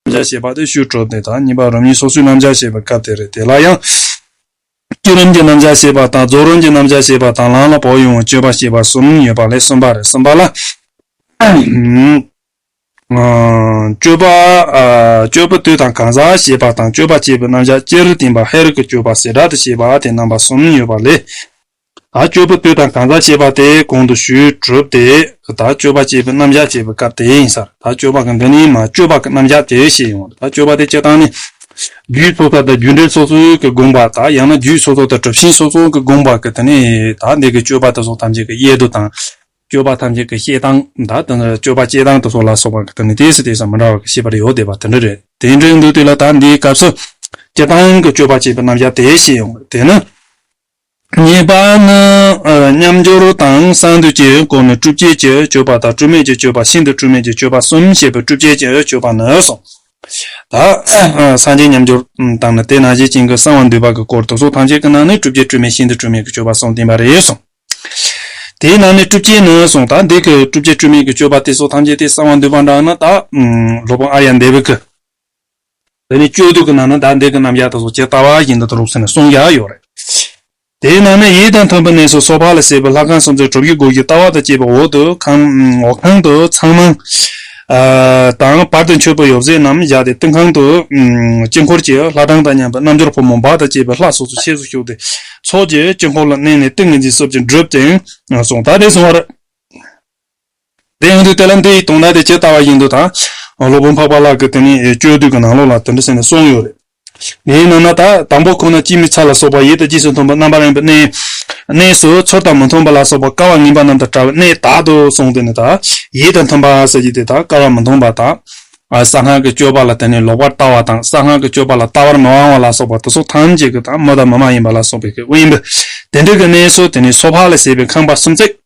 རྣམ་སྦྱར་ཞེས་པ་དེ་ཤུལ་གྲོལ་དེ་དང་གཉིས་པ་རང་ཉིད་སོ་སོའི་རྣམ་སྦྱར་ཞེས་པའི་སྐབས་དེ་རེད་དེ་ལ་ཡང། སྐྱེད་རིམ་གྱི་རྣམ་སྦྱར་ཞེས་པ་དང་རྫོགས་རིམ་གྱི་རྣམ་སྦྱར་ཞེས་པ་དང་ལམ་ལ་བོགས་དབྱུང་བའི་སྤྱོད་པ་ཞེས་པ་གསུམ་ཡོད་པ་ལས་གསུམ་པ་རེད་གསུམ་པ་ལ། སྤྱོད་པ། སྤྱོད་པ་དུས་དང་གང་ཟག་ཞེས་པ་དང་སྤྱོད་པ་སྤྱད་པའི་རྣམ་སྦྱར་སྤྱིར་བསྟན་པ་ཧེ་རུ་ཀའི་སྤྱོད་པ་ཟེ་སྒྲ་དུ་བྱས་པ་དེ་རྣམ་པ་གསུམ་ཡོད་པ་ལས། སྤྱོད་པ་ལྟོས་དང་གང་ཟག་ཅེས་པ་དེ་གོང་དུ་ཞུས་གྲུབ་སྟེ། དག་སྤྱོད་པ་སྤྱད་པའི་རྣམ་གཞག་ཅེས་པའི་སྐབས་དེ་ཡིན་ས་རེད། དག་སྤྱོད་པ་གང་དེ་ནི་མ་སྤྱོད་པ་གི་རྣམ་གཞག་དེ་ཞེས་ཡིན་འོང། དག་སྤྱོད་པ་དེ་སྤྱད་སྟངས་ནི། རྒྱུད་སོ་སོ་དང་རྒྱུད་འགྲེལ་སོ་སོའི་གི་དགོངས་པ་དག་ཡང་ན་རྒྱུད་སོ་སོ་དང་གྲུབ་ཤིང་སོ་སོའི་གི་དགོངས་པ་གི་དེ་ནི་དག་འདི་གི་སྤྱོད་པ་དེ་སོགས་ཐམས་ཅད་གི་དབྱེ་བསྡུ་དང། སྤྱོད་པ་ཐམས་ཅད་གི་བཤད་སྟངས་དང་དེ་སྤྱོད་པ་སྤྱད་སྟངས་དེ་སོགས་ལ་སོགས་པ་གི་དེ་ནི་དེ་སུ་དེ་སུ་མི་འདྲ་བ་གི་ཤེས་པ་རེ་ཡོད་བསྡད་པ་དེ་འདྲ་རེད། དེ་འདྲའི་འདུག་དེ་ལ་དག་འདིའི་སྐབས་སུ། སྤྱད་སྟངས་གི་སྤྱོད་པ་སྤྱད་པའི་རྣམ་གཞག་དེ་ཞེས་ཡིན་འོང། དེས་ན། གཉིས་པ་ནི། མཉམ་སྦྱོར་དང་གསང་འདུས་ཀྱི་སྐོར་ནི་བསྒྲུབ་བྱེད་ཀྱི་སྤྱོད་པ་དང་སྤྲོས་མེད་ཀྱི་སྤྱོད་པ་ཤིན་ཏུ་སྤྲོས་མེད་ཀྱི་སྤྱོད་པ་གསུམ་བཤད་པའི་བསྒྲུབ་བྱེད་ཀྱི་སྤྱོད་པ་ནི་གསུམ། ད་སངས་རྒྱས་མཉམ་སྦྱོར་དང་ནི་དེ་ནང་བཞིན་བྱིན་གྱིས་གསང་བ་འདུས་པ་གྱི་སྐོར་དུ་གཟུགས་ཐམས་ཅད་ཀྱི་ནང་ནས་བསྒྲུབ་བྱེད་སྤྲོས་མེད་ཤིན་ཏུ་སྤྲོས་མེད་ཀྱི་སྤྱོད་པ་གསུམ་བསྟན་པ་རེད་གསུངས། དེའི་ནང་ནས་བསྒྲུབ་བྱེད་ནི་གསུངས་ད་འདས་ཀྱི་བསྒྲུབ་བྱེད་སྤྲོས་མེད་ཀྱི་སྤྱོད་པ་སྟེ་གཟུགས་ཐམས་ཅད་དེ་གསང་བ་འདུས་པ་འདྲ་ན་ད། སློབ་དཔོན་ཨ་རྱ་འདས་པའི་སྐུ། དེ་ནི་སྤྱོད་བསྡུས་ཀྱི་ནང་ན་བདག་འདས་ཀྱི་རྣམ་གཞག་དང་སོགས་ཇི་ལྟ་བ་བཞིན་དུ་ལུགས་སུ་ནི་གསུངས་ཀྱང་ཡོད་རེད། དེའི་ནང་ན་ཡིད་དང་མཐུན་པའི་གནས་སུ་སོ་ཕག་ལ་བྱེད་པའི་ལྷ་ཁང་སུམ་ཅུ་དྲུག་ཡུལ་སྒོ་བཞི་ལྟ་བ་དང་བཅས་པའི་འོག་ཏུ་ཁང། ཁང་དུ་ཚངས་མང། དང་བར་དུ་མཆོད་པའི་ཡོ་བྱད་རྣམས་བཞག་སྟེ་སྟེང་ཁང་དུ། དཀྱིལ་འཁོར་གྱི་ལྷ་གྲངས་དང་མཉམ་པའི་རྣམ་འབྱོར་ཕོ་མོ་འབག་དང་བཅས་པའི་ལྷ་སོ་སོའི་ཆས་སུ་ཞུགས་ཏེ། ཚོགས་ཀྱི་དཀྱིལ་འཁོར་ལ་གནས་ནས་ཏིང་ངེ་འཛིན་སོབ་ཅིང་བསྒྲུབ་ཅིང་སོང། ད་དེ་སོང་བར། དེ་ཡང་དུས་དེ་ལ་འདི་ཡིས་དུངས་ན་དེ་ཇི་ལྟ་བ་བཞིན་དུ་དང། སློབ་དཔོན་འཕགས་པ་ལགས་ཀྱི་དེ་ནི་སྤྱོད་བསྡུས་ཀྱི་ནང་ལོགས་ལ་དེ་འདྲ་ཟེར་ནས་གསུངས་ཡོད་རེད། དེའི་ནང་ན་ད་དང་པོ་ཁོ་ན་སྤྱི་མི་ཚ་ལ་སོགས་པ་ཡིད་དང་ཅི་སུ་མཐུན་པ་རྣམ་པར་གཡེང་བའི་གནས། གནས་སུ་ཚུལ་དང་མི་མཐུན་པ་ལ་སོགས་པ་དཀའ་བ་ངན་པ་རྣམས་དང་བྲལ་བའི་གནས་དག་ཏུ་གསུངས་དེ་ནི་ད་ཡིད་དང་མཐུན་པ་ཟེར་གྱི་དེ་དག་དཀའ་བ་མི་མཐུན་པ་དང། གསང་སྔགས་ཀྱི་སྤྱོད་པ་ལ་དེ་ནི་ལོག་པར་ལྟ་བ་དང་གསང་སྔགས་ཀྱི་སྤྱོད་པ་ལ་ལྟ་བར་མི་དབང་བ་ལ་སོགས་པ་དུག་གསུམ་ཐམས་ཅད་ཀྱི་དང་མི་དང་མི་མ་ཡིན་པ་ལ་སོགས་པའི་དབེན་པའི་དེ་འདྲ་གི་གནས་སུ་དེ་ནི་སོ་ཕག་ལ་བྱས་པའི་ཁང་པ་སུམ་བརྩེགས།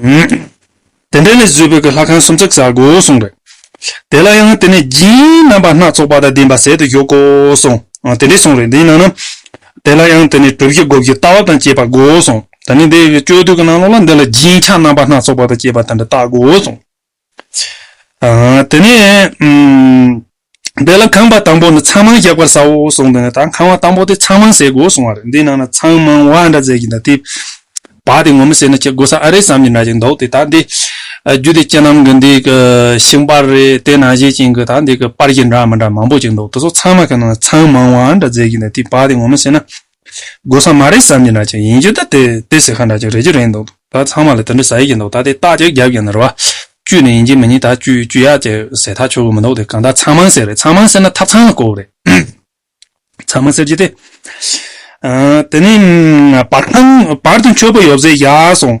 དེ་འདྲ་ལས་བཟོས་པའི་གི་ལྷ་ཁང་སུམ་བརྩེགས་བཟའ་དགོས་གསུངས་པས། དེ་ལ་ཡང་དེ་ནས་སྦྱིན་རྣམ་པ་སྣ་ཚོགས་པ་དང་ལྡན་པ་ཟད་དུ་གཞུག་གོ་གསུངས། དེ་འདྲའི་གསུང་རེ་འདི་གནང་ན། དེ་ལ་ཡང་དེ་ནས་གྲུ་བཞི་སྒོ་བཞི་རྟ་བབས་དང་བཅས་པ་དགོས་གསུངས། ད་ནི་དེ་ཡི་སྤྱོད་བསྡུས་ཀྱི་གནང་ལུགས་ལ་འདི་ལ་སྦྱིན་བྱ་རྣམ་པ་སྣ་ཚོགས་པ་དང་བཅས་པ་དེ་འདྲ་བཏགས་དགོས་གསུངས། དེ་ནས་དེ་ལ་ཁང་པ་དང་པོ་ནི་ཚང་མང་བཞག་པར་བྱའོ་གསུངས་པས་ན་ད་ཁང་བ་དང་པོ་དེ་ཚང་མང་བྱེད་དགོས་གསུངས་བ་རེད་འདི་ནང་ན་ཚང་མང་བ་འདྲ་བྱེད་ཀྱི་འདྲ་དེ་བ་དེ་ངོ་མི་ཤེས་ན་ཁྱེད་དགོས་ས་ཨ་རེད་བསམ་གྱི་འདྲ་ཞིག་འདུག་དེ་ད་འདི་རྒྱུད་སྡེ་ཁྱེད་རྣམས་ཀྱི་འདི་གི་ཤིང་པར་རེད་དེ་ན་བཞེད་ཅིང་གི་ད་འདི་གི་པར་གྱི་འདྲ་མི་འདྲ་མང་པོ་ཅིག་འདུག་དེ་ཚོ་ཚང་མ་གི་ནང་ན་ཚང་མང་བ་འདྲ་བྱེད་ཀྱི་འདྲ་དེ་བ་དེ་ངོ་མི་ཤེས་ན་སྒོ་སམ་མ་རེད་བསམ་གྱི་འདྲ་ཅིག་ཡིན་རྒྱུ་ད་དེ་དེ་ཟེར་ཁ་འདྲ་ཅིག་རེད་རྒྱུ་རེད་འདུག་ད་ཚང་མ་ལ་དེ་འདྲ་ཟ་ཡི་གི་འདུག་ད་དེ་རྟགས་ཅིག་རྒྱབ་ཀྱི་འདུག་རེད་བ། བཅུ་ནས་ཡིན་གྱི་མི་ཉིན་ད་བཅུ་བཅུ་ཡག་ཅིག་ཟེར་ཐག་ཆོད་གི་མི་འདུག་དེ་གང་ལྟར་ཚང་མང་ཟེར་རེད་ཚང་མང་ཟེར་ན་ཐབ་ཚང་ལ་བསྐོར་བ་རེད། ཚང་མ་ཟེར་གྱི་དེ། དེ་ནས་བར་ཁང་བར་དུ་མཆོད་པོ་ཡོད་ཟེར་བཞག་སོང།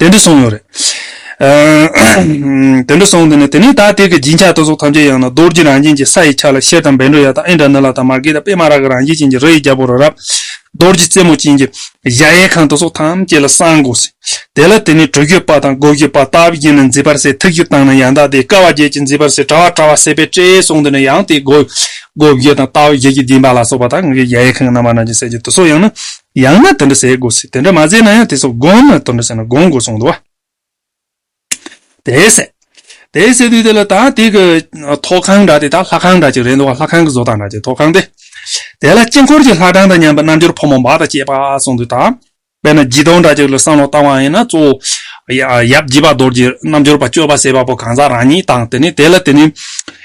དེ་འདྲ་སོང་ཡོད་རེད། དེ་འདྲ་སོང་དུས་ནས་དེ་ནས་ད་ཐེག་གི་སྦྱིན་ཆགས་ལྟ་སོགས་ཐམས་ཅད་ཡང་ན་རྡོ་རྗེ་རང་བཞིན་གྱི་ས་ཡི་ཆ་ལ་ཤེལ་དང་བེ་འགྲོ་ཡ་དང་ཨིན་དྲ་ནཱི་ལ་དང་མར་གེ་དང་པད་མ་རཱ་ག་རང་བཞིན་ཅན་གྱི་རི་ཡི་རྒྱལ་པོ་རི་རབ། རྡོ་རྗེ་རྩེ་མོ་ཅན་གྱི་གཞལ་ཡས་ཁང་ལྟ་སོགས་ཐམས་ཅད་ལ་གསང་དགོས་ཟིན། དེ་ལ་དེ་ནས་གྲུ་བཞི་པ་དང་སྒོ་བཞི་པ་རྟ་བཞི་ཡན་ནས་མཉྫི་བར་སའི་ཐིག་བཞི་བཏང་ནས་ཡང་དག་དེ་ཀ་བ་བརྒྱད་ཀྱི་མཉྫི་བར་སའི་དྲ་བ་དྲ་བ་སེ་པའི་སྤྲེའི་སོང་དུས་ནས་ཡང་དེའི་སྒོ་བཞི་དང་རྟ་བཞི་ཀྱི་སྡིངས་པ་ལ་སོགས་པ་དང་གཞལ་ཡས་ཁང་གི་རྣམ་པ་རྣམས་ཀྱི་གསལ་བྱེད་དུ་སོགས་ཡང་ན་ཡང་ན་དེ་འདྲ་ཟེར་དགོས་སྲིད་དེ་འདྲ་མ་ཟེར་ན་ཡང་དེ་སོགས་དགོངས་ན་དོན་འདྲ་ཟེར་ན་དགོངས་དགོས་གསུངས་འདུག་བ། དེ་ཟད། དེ་ཟེར་དུས་དེ་ལ་ད་དེ་གི། ཐོག་ཁང་འདྲ་དེ་དག་ལྷ་ཁང་འདྲ་ཅིག་རེད་འདུག་བ་ལྷ་ཁང་གི་བཟོ་ལྟ་འདྲ་ཅིག་ཐོག་ཁང་དེ། དེ་ལ་དཀྱིལ་འཁོར་གྱི་ལྷ་གྲངས་དང་མཉམ་པའི་རྣལ་འབྱོར་ཕོ་མོ་འབའ་དང་བཅས་པ་གསུངས་འདུག་ད། དཔེར་ན་བརྗིད་ཐོག་འདྲ་ཅིག་ལ་བསམ་བློ་བཏང་བ་ཡིན་ན་གཙོ་བོ། ཡབ་བརྗིད་པ་རྡོར་གྱི་རྣལ་འབྱོར་པ་སྤྱོད་པ་ཟེར་བ་པོ་གང་ཟག་རང་ཉིད་དང་དེ་ནས་དེ་ལ་དེ་ནི།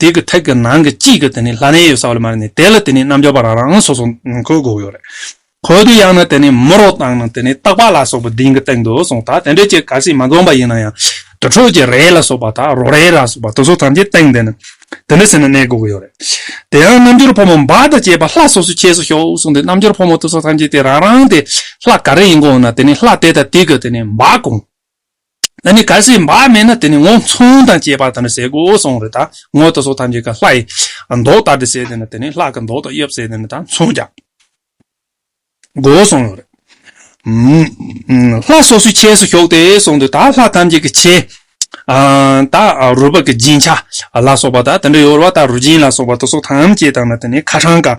དེ་གི་ཐད་ཀྱི་ནང་གི་གཅིག་གི་དེ་ནི་ལྷ་ནའི་ཡོད་ས་བ་ལ་མ་རེད་ནི་དེ་ལ་དེ་ནི་རྣམ་འབྱོར་པ་རང་རང་སོ་སོ་ཁོའི་དགོས་ཡོད་རེད། ཁོའི་དུ་ཡང་ན་དེ་ནི་མུ་རོ་དང་ནི་དེ་ནི་སྟག་པ་ལ་སོགས་པའི་དིང་གི་སྟེང་དུ་སོང་ད་དེ་འདྲའི་ཀྱི་ག་སིག་མ་འཛོམས་པ་ཡིན་ན་ཡང་དུར་ཁྲོད་ཀྱི་རས་ལ་སོགས་པ་དང་རོ་རས་ལ་སོགས་པ་དུ་སོ་ཐམས་ཅད་སྟེང་དེ་ནི་དེ་འདྲ་ཟེར་ན་གནས་དགོས་ཀྱི་ཡོད་རེད། དེ་ཡང་རྣམ་འབྱོར་ཕོ་མོ་འབའ་དང་བཅས་པ་ལྷ་སོ་སོའི་ཆས་སུ་ཞོག་གསུངས་ཏེ་རྣམ་འབྱོར་ཕོ་མོ་དུ་སོ་ཐམས་ཅད་དེ་རང་རང་དེ་ལྷ་ག་རེ་ཡིན་གོང་ན་དེ་ནི་ལྷ་དེ་དང་དེ་གི་དེ་ནི་འབའ་གོང། ད་ནི་གལ་སྲིད་བག་མེད་ན་དེ་ནི་ངོ་མཚུངས་དང་བཅས་པ་དང་ནི་ཟས་གོས་འོད་སྲུང་རི་དྭགས་ངོ་ད་སོགས་ཐམས་ཅད་ཀྱི་ལྷ་ཡི་མདོག་ལྟར་དུ་བྱས་ཏེ་ནི་དེ་ནི་ལྷ་ཀྱི་མདོག་དང་དབྱིབས་བྱས་ཏེ་ནི་དང་མཚུངས་ཀྱང། གོ་འོད་སྲུང་རི། ལྷ་སོ་སོའི་ཆས་སུ་ཞོག་སྟེ་གསུངས་ཏེ་ད་ལྷ་ཐམས་ཅད་ཀྱི་ཆས། ད་རུ་བག་གི་སྦྱིན་བྱ་ལ་སོགས་པ་དང་དེ་འདྲ་ཡོར་བ་ད་རུ་སྦྱིན་ལ་སོགས་པ་ད་སོགས་ཐམས་ཅད་དང་ནི་དེ་ནི་ཁ་གྲངས་ཀ།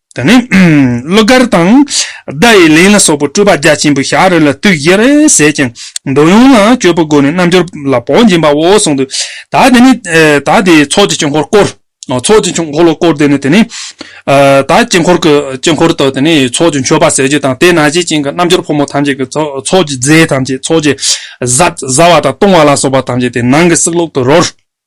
དེ་ནས་གླུ་གར་དང། བརྡ་ཡི་ལན་ལ་སོགས་པའི་སྤྲོས་པ་རྒྱ་ཆེན་པོས་ཞག་རེ་ལ་དུས་བཞི་རེ་ཟད་ཅིང་འགྲོ་ཡོང་ལ་སྤྱོད་པའི་སྒོ་ནས་རྣལ་འབྱོར་ལ་བོགས་འབྱིན་པའོ་གསུངས། དེ་དག་དེའི་ཚོགས་ཀྱི་དཀྱིལ་འཁོར་བསྐོར། ཚོགས་ཀྱི་དཀྱིལ་འཁོར་ལ་བསྐོར་ཏེ་དེ་ནས། དག་དཀྱིལ་འཁོར་གྱི་དཀྱིལ་འཁོར་དུ་དེ་ནས་ཚོགས་ཀྱི་མཆོད་པ་ཟས་བཅུད་དང་དེ་ན་བྱེད་ཅིང་གི་རྣལ་འབྱོར་ཕོ་མོ་ཐམས་ཅད་ཀྱི་ཚོགས་ཀྱི་རྫས་ཐམས་ཅད་ཚོགས་ཀྱི། བཟའ་བ་དང་བཏུང་བ་ལ་སོགས་པ་ཐམས་ཅད་དེ་ནང་གི་སྲེག་བླུག་ཏུ་རོལ།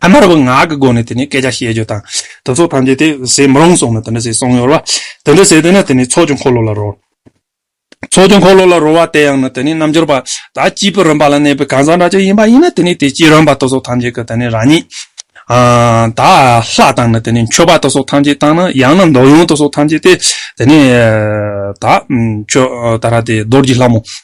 ཨ་མར་བུ་ངག་གི་སྒོ་ནས་དེ་ནས་སྐད་ཆ་བཤད་རྒྱུ་དང། དེ་ཚོ་ཐམས་ཅད་དེ་ཟས་མི་རུང་སོང་ནས་དེ་འདྲ་ཟས་སོང་ཡོད་བ། དེ་འདྲ་ཟས་དེ་ནས་དེ་ནས་ཚོགས་ཀྱི་འཁོར་ལོ་ལ་རོལ། ཚོགས་ཀྱི་འཁོར་ལོ་ལ་རོལ་བ་དེ་ཡང་ནི་དེ་ནས་རྣམ་འབྱོར་པ་དག་སྐྱིད་པོས་རིམ་པ་ལ་གནས་པའི་གང་ཟག་འདྲ་ཅིག་ཡིན་པ་ཡིན་ན་དེ་ནས་དེ་སྐྱིད་རིམ་པ་དེ་སོགས་ཐམས་ཅད་ཀྱི་དེ་ནས་རང་ཉིད། དག་ལྷ་དང་ནི་དེ་ནས་མཆོད་པ་དེ་སོགས་ཐམས་ཅད་དང་ནི་ཡང་ན་མདོག་ཡོངས་དེ་སོགས་ཐམས་ཅད་དེ་དེ་ནས་དག། མཆོད་ད་ར་དེ་རྡོར་གྱི་ལྷ་མོ།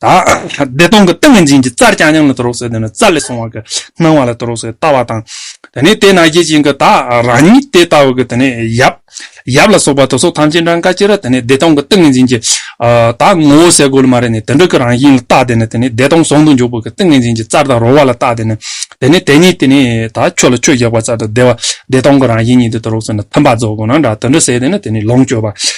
བདེ་སྟོང་གི་ཏིང་ངེ་འཛིན་གྱི་རྩར་རྐྱང་རྐྱང་ལ་དུ་རོ་སོད་དེ་ནི་རྩ་ལས་སོང་བ་གི་སྣང་བ་ལ་དུ་རོ་སོད་ལྟ་བ་དང། དེ་ནས་དེ་ན་གཞི་ཅན་གྱི་དག་རང་ཉིད་དེ་ལྟ་བུ་གི་དེ་ནི་ཡབ། ཡབ་ལ་སོགས་པ་དུ་སོགས་ཐམས་ཅད་འདྲ་འགའ་ཅི་ར་དེ་ནི་བདེ་སྟོང་གི་ཏིང་ངེ་འཛིན་གྱི། དག་ངོ་བོ་སའི་གོ་ལ་མ་རེ་ནས་དེ་འདྲ་གི་རང་བཞིན་ལ་བལྟ་དེ་ནི་དེ་ནི་བདེ་སྟོང་ཟུང་དུ་འཇུག་པ་གི་ཏིང་ངེ་འཛིན་གྱི་རྩར་དག་རོ་བ་ལ་བལྟ་དེ་ནི། དེ་ནི་དེ་ཉིད་དེ་ནི་དག་ཆོས་ལ་ཆོས་བཞག་པ་རྩ་དང་བདེ་བ་བདེ་སྟོང་གི་རང་བཞིན་ཉིད་དུ་དུ་རོ་སོད་ན་མཐུན་པ་རྫོགས་དགོས་ན་འདྲ་དུ་འདྲ་ཟད་དེ་ནི་དེ་ནི་ལོངས་སྤྱོད་པ།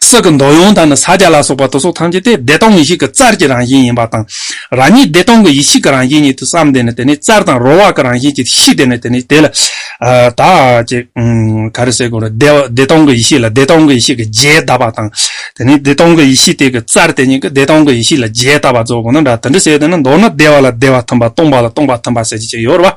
སྲིད་ཀྱི་མདོ་ཡོངས་དག་ནི་ས་བརྒྱ་ལ་སོགས་པ་དུ་སོགས་ཐམས་ཅད་དེ་བདེ་སྟོང་ངེས་ཤེས་ཀྱི་རྩར་གྱི་རང་བཞིན་ཡིན་པ་དང། རང་ཉིད་བདེ་སྟོང་གི་ཡེ་ཤེས་ཀྱི་རང་བཞིན་ཉིད་དུ་བསམས་ཏེ་ནི་དེ་ནི་རྩར་དང་རོལ་བར་གྱི་རང་བཞིན་གྱི་གཤིས་དེ་ནི་དེ་ནི་དེ་ལ་དག་ཅིག། ག་རེ་སེ་གོ་རེ། བདེ་སྟོང་གི་ཡེ་ཤེས་ལ་བདེ་སྟོང་གི་ཡེ་ཤེས་ཀྱི་རྗེས་གདབ་པ་དང། དེ་ནི་བདེ་སྟོང་གི་ཡེ་ཤེས་དེ་ཀྱི་རྩར་དེ་ཉིད་ཀྱི་བདེ་སྟོང་གི་ཡེ་ཤེས་ལ་རྗེས་གདབ་པ་རྫོགས་པ་ན་འདྲ་དེ་འདྲ་བྱས་ཏེ་ནི་མདོར་ན་བདེ་བ་ལ་བདེ་བ་མཐུན་པ་སྟོང་པ་ལ་སྟོང་པ་མཐུན་པ་ཟེར་བྱེད་ཅིག་ཡོད་རེ་བ།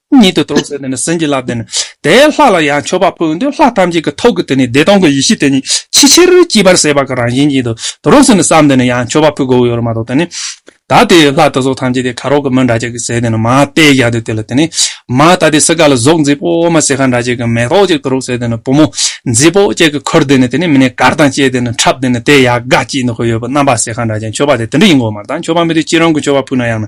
ཉིད་དུ་གཏོགས་སའི་སེམས་ཀྱི་རླབས་དེ་ནི་དེའི་ལྷ་ལ་ཡང་མཆོད་པ་ཕུལ་འདོད་ལྷ་ཐམས་ཅད་ཀྱི་ཐུགས་ཀྱི་དེ་ནས་བདེ་སྟོང་གི་ཡེ་ཤེས་དེ་ཉིད་ཕྱི་ཕྱིར་གྱིས་པར་ཟད་པ་གང་རང་བཞིན་ཉིད་དུ་གདོན་ཟིན་ནས་བསམས་ཏེ་ནི་ཡང་མཆོད་པ་ཕུལ་དགོས་ཡོད་རུང་མ་གཏོགས་དེ་ནི། ད་དེ་ལྷ་དེ་ཚོ་ཐམས་ཅད་དེ་ཁ་རོག་གི་མི་འདྲ་བྱེད་ཀྱི་ཟས་དེ་ནི་མ་སྟེ་བཞག་དེ་དེ་ལ་དེ་ནི། མ་ད་དེ་སྲི་ཀ་ལ་གཟུགས་མཛེས་པོ་མ་སྲི་ཁ་འདྲ་བྱེད་ཀྱི་མེ་ཏོག་ཅིག་དུ་རུག་ཟས་དེ་ནི་བུ་མོ། མཛེས་པོ་ཅིག་གི་ཁུར་དེ་ནི་དེ་ནི་མི་ནས་གར་དང་བཅས་དེ་ནི་འཁྲབ་དེ་ནི་དེ་ཡག་ག་ཅིག་ནི་ཁོ་ཡོད་པ་རྣམ་པ་སྲི་ཁ་འདྲ་བྱེད་མཆོད་པ་དེ་དེ་འདྲ་ཡིན་དགོས་མ་ད་མཆོད་པ་མི་དེ་ཅི་རང་གི་མཆོད་པ་ཕུལ་ན་ཡང་ན།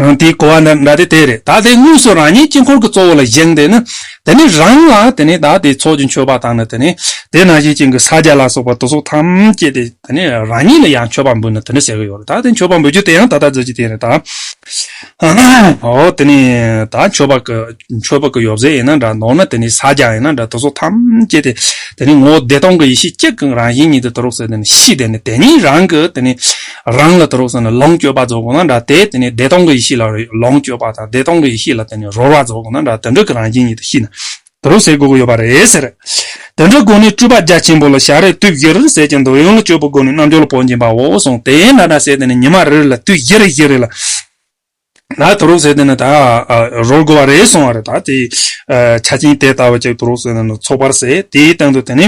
དེའི་གོ་བ་ནི་ད་དེ་དེ་རེད་ད་དེ་དངོས་སུ་རང་ཉིད་དཀྱིལ་འཁོར་གྱི་གཙོ་བོ་ལ་བཞེངས་ཏེ་ནི། དེ་ནི་རང་ལ་དེ་ནི་ད་དེ་ཚོགས་ཀྱི་མཆོད་པ་དང་ནི་དེ་ནི་དེ་ན་བཞིན་བྱིན་གྱིས་ས་བརྒྱད་ལ་སོགས་པ་དུག་གསོག་ཐམས་ཅད་དེ་དེ་ནི་རང་ཉིད་ལ་ཡང་མཆོད་པ་འབུལ་ནི་དེ་ནི་ཟེར་གྱི་ཡོད་རེད་ད་དེ་མཆོད་པ་འབུལ་རྒྱུ་དེ་ཡང་ད་ལྟར་མཛད་ཀྱི་དེ་རེད་ད། འོ་དེ་ནི་ད་མཆོད་པ་གི་མཆོད་པ་གི་ཡོ་བྱད་ཡིན་ན་འདྲ་ནོར་ནི་དེ་ནི་ས་བརྒྱ་ཡིན་ན་འདྲ་དུག་གསོག་ཐམས་ཅད་དེ་དེ་ནི་ངོ་བོ་བདེ་སྟོང་གི་ཡེ་ཤེས་གཅིག་གི་རང་བཞིན་ཉིད་དུ་དུ་རུ་གསལ་དེ་ནི་གཤིས་དེ་ནི་དེ་ཉིད་རང་གི་དེ་ནི། རང་ལ་དུ་རོགས་བསམས་ནས་ལོངས་སྤྱོད་པ་རྫོགས་དགོས་ན་འདྲ་དེ་དེ་ནས་བདེ་སྟོང་གི་ཡེ་ཤེས་ལ་ལོངས་སྤྱོད་པ་དང་བདེ་སྟོང་གི་ཡེ་ཤེས་ལ་དེ་ནས་རོལ་བ་རྫོགས་དགོས་ན་འདྲ་དོན་གྲུབ་ཀྱི་རང་བཞིན་ཉིད་དུ་ཤེས་ན་དུ་རོགས་ཟེར་དགོས་ཀྱི་ཡོད་པ་རེད་ཟེར། དོན་གྲུབ་དགོན་ནས་སྤྲུལ་པ་རྒྱ་ཆེན་པོ་ལ་ཞག་རེར་དུས་བཞིར་ཟས་ཀྱི་འདོད་ཡོན་ལ་སྤྱོད་པོ་དགོས་ནས་རྣལ་འབྱོར་ལ་བོགས་འབྱིན་པའོ་གསུངས་དེ་ཡན་ལག་དྲག་ཟས་དེ་ནས་ཉི་མ་རེ་རེ་ལ་དུས་བཞི་རེ་བཞི་རེ་ལ་ད་དུ་རུག་ཟེར་དེ་ནི་ད་རོར་དགོ་བ་རེད་གསུང་བ་རེད་ད་དེ་ཆ་ཆེན་དེ་ལྟ་བུ་ཅིག་དུ་རུག་ཟེར་ན་ནི་ཚོགས་པར་ཟེར་དེའི་སྟེང་དུ་དེ་ནི་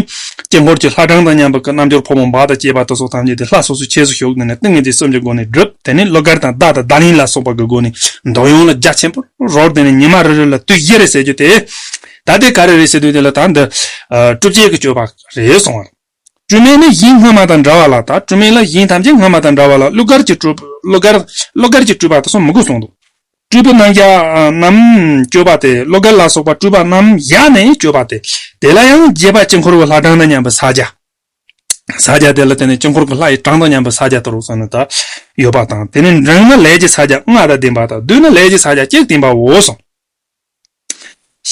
དཀྱིལ་འཁོར་གྱི་ལྷ་གྲངས་དང་མཉམ་པ་ཀྱི་རྣལ་འབྱོར་ཕོ་མོ་འབའ་དང་བཅས་པ་དུ་སོགས་ཐམས་ཅད་དེ་ལྷ་སོ་སོའི་ཆས་སུ་ཞུགས་ཏེ་ནི་ཏིང་ངེ་འཛིན་གསུམ་གྱི་སྒོ་ནས་བསྒྲུབ་དེ་ནི་གླུ་གར་དང་བདག་དང་བདག་ཉིད་ལ་སོགས་པ་གི་སྒོ་ནས་འདོད་ཡོན་ལ་རྒྱ་ཆེན་པོ་རོར་དེ་ནི་ཉི་མ་རེ་རེ་ལ་དུས་བཞི་རེ་ཟེར་རྒྱུ་དེ། ད་དེ་ག་རེ་རེད་ཟེར་དུས་དེ་ལ་ད་འདི་བསྒྲུབ་བྱེད་ཀྱི་སྤྱོད་པ་རེད་གསུང་བ། སྤྲུལ་སྨན་ནི་གཞི་སྔ་མ་དང་འདྲ་བ་ལ་དང་སྤྲུལ་སྨན་ལ་གཞི་ཐམས་ཅད་སྔ་མ་དང་འདྲ་བ་ལ་གླུ་གར་གྱི་སྤྲུལ་པ་དེ་སོགས་མི་དགོས་གསུངས་འདུག་སྤྲུལ་པའི་རྣམ་གཞག་རྣམས་བརྗོད་པ་སྟེ་གླུ་གར་ལ་སོགས་པ་སྤྲུལ་པ་རྣམ་གཞག་ནི་བརྗོད་པ་སྟེ་དེ་ལ་ཡང་རྒྱས་པ་དཀྱིལ་འཁོར་གྱི་ལྷ་གྲངས་དང་མཉམ་པའི་ས་བརྒྱ། ས་བརྒྱ་དེ་ལ་བརྟེན་ནས་དཀྱིལ་འཁོར་གྱི་ལྷ་ཡི་གྲངས་དང་མཉམ་པའི་ས་བརྒྱ་དྲུག་ཙམ་དག་ཡོད་པ་དང་དེ་ནི་འབྲིང་ན་ལས་ཀྱི་ས་བརྒྱ་ལྔ་དང་ལྡན་པ་དང་བསྡུ་ན་ལས་ཀྱི་ས་བརྒྱ་གཅིག་བསྟན་པའོ་གསུངས།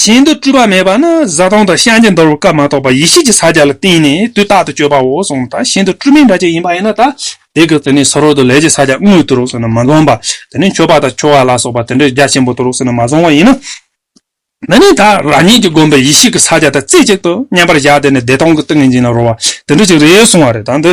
གཞན་དུ་སྤྲུལ་པ་མེད་པ་ནི་བཟའ་བཏུང་དང་བཤང་གཅི་འདོར་བའི་སྐབས་མ་གཏོགས་པར་ཡེ་ཤེས་ཀྱི་ས་བརྒྱད་ལ་བརྟེན་ནས་དུས་རྟག་ཏུ་སྤྱོད་པའོ་གསུངས་པ་དང་གཞན་དུ་སྤྲུལ་མིང་འདྲ་གཅིག་ཡིན་པ་ཡིན་ན་དག་དེ་གི་དེ་ནས་སོར་རོ་དུ་ལས་ཀྱི་ས་བརྒྱད་དངོས་དུ་རོ་གསུངས་ན་མ་འཛོམ་པ་དེ་ནས་མཆོད་པ་དང་མཆོད་བ་ལ་སོགས་པ་དེ་འདྲའི་རྒྱ་ཆེན་པོ་དུ་རོ་གསུངས་ན་མ་འཛོམ་བ་ཡིན། འདི་ནི་དག་རང་ཉིད་ཀྱི་བསྒོམས་པའི་ཡེ་ཤེས་ཀྱི་ས་བརྒྱད་དང་རྩེ་གཅིག་ཏུ་མཉམ་པར་བཞག་དེ་ནས་བདེ་སྟོང་གི་ཏིང་ངེ་འཛིན་ལ་རོལ་བ་དེ་འདྲ་ཅིག་རེད་གསུངས་བ་རེད་ད་འདི་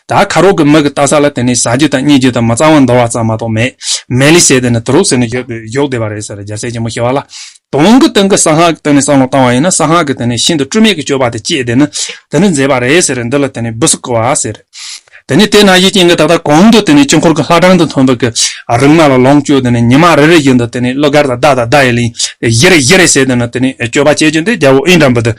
ད་ཁ་རོག་གི་མིག་གི་ལྟ་ས་ལ་དེ་ནས་ཟ་རྒྱུ་དང་རྙེད་རྒྱུ་དང་མི་གཙང་བ་འདོར་བ་ཙམ་མ་གཏོགས་མེད། མལ་ལི་ཟས་དེ་ནི་དུ་རུག་ཟས་ནི་ཡོད་པས་གཞོགས་བདེ་བ་རེད་ཟེར་རྒྱ་སེ་ཆེན་མོ་ཞེས་བ་ལ། དུང་གི་སྟེང་གི་ས་སྔགས་ཀྱི་སྟེང་ནས་སང་ལོ་བཏང་བ་ཡིན་ན་ས་སྔགས་ཀྱི་དེ་ནས་ཤིན་ཏུ་སྤྲུལ་མེད་ཀྱི་སྤྱོད་པ་དེ་སྐྱེས་དེ་ནི་དེ་ནི་མཛེས་པ་རེད་ཟེར་འདི་ལ་དེ་ནས་སྦུ་སི་བསྐོལ་བ་ཟེར། དེ་ནས་དེ་ན་གཞི་རྐྱེན་གྱི་ད་ལྟ་གོང་དུ་དེ་ནས་དཀྱིལ་འཁོར་གྱི་ལྷ་གྲངས་དང་མཐུན་པའི་གི་རིག་མ་ལ་ལོངས་སྤྱོད་དེ་ནས་ཉི་མ་རེ་རེ་བཞིན་དུ་དེ་ནས་གླུ་གར་དང་བརྡ་དང་བརྡ་ཡི་གླིང་བཞི་རེ་བཞི་རེ་ཟེར་དེ་ནི་དེ་ནས་སྤྱོད་པ་བྱེད་ཀྱིན་དེ་རྒྱལ་པོ་ཨིནྡྲ་བུ་ཏི།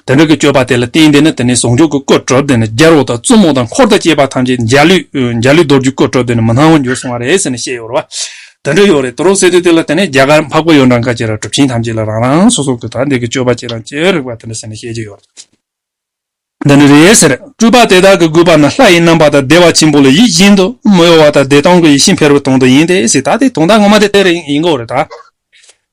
དེ་འདྲ་གི་སྤྱོད་པ་དེ་ལ་བརྟེན་ཏེ་ནི་དེ་ནས་ཟུང་འཇུག་གི་སྐུར་གྲུབ་སྟེ་ནི་རྒྱལ་བ་དང་བཙུན་མོ་དང་འཁོར་དང་བཅས་པ་ཐམས་ཅད་འཇའ་ལུས་འཇའ་ལུས་རྡོ་རྗེའི་སྐུར་གྲུབ་སྟེ་ནི་མི་སྣང་བར་འགྱུར་གསུང་བ་རེ་ཟེར་ནི་བཤད་ཡོད་རེད་བ། དེ་འདྲ་ཡོད་རེད་དོ་རོགས་ཟེར་དུས་དེ་ལ་དེ་ནས་རྒྱ་གར་འཕགས་པ་ཡོན་ཏན་ཀ་བཅས་ར་གྲུབ་ཆེན་ཐམས་ཅད་ལ་རང་རང་སོ་སོ་གི་དག་འདེགས་ཀི་སྤྱོད་པ་བྱེད་རང་བྱེད་རིགས་པ་དེ་འདྲ་ཟེར་ནི་བཤད་ཀྱི་ཡོད་རེད། འདི་ནི་རེ་ཟེར་སྤྲུལ་པ་དེ་དག་གི་གུས་པ་ནི་ལྷ་ཡི་རྣམ་པ་དང་བདེ་བ་ཆེན་པོ་ལ་ཡིད་བཞིན་དུ་མི་གཡོ་བ་དང་བདེ་སྟོང་གི་ཡེ་ཤེས་འཕེལ་བའི་དོན་དུ་ཡིན་ཏེ་ཟེར་ད་དེའི་དོན་དག་ངོ་མ་དེ་དེ་རེད་ཡིན་གོ་རེད་ད།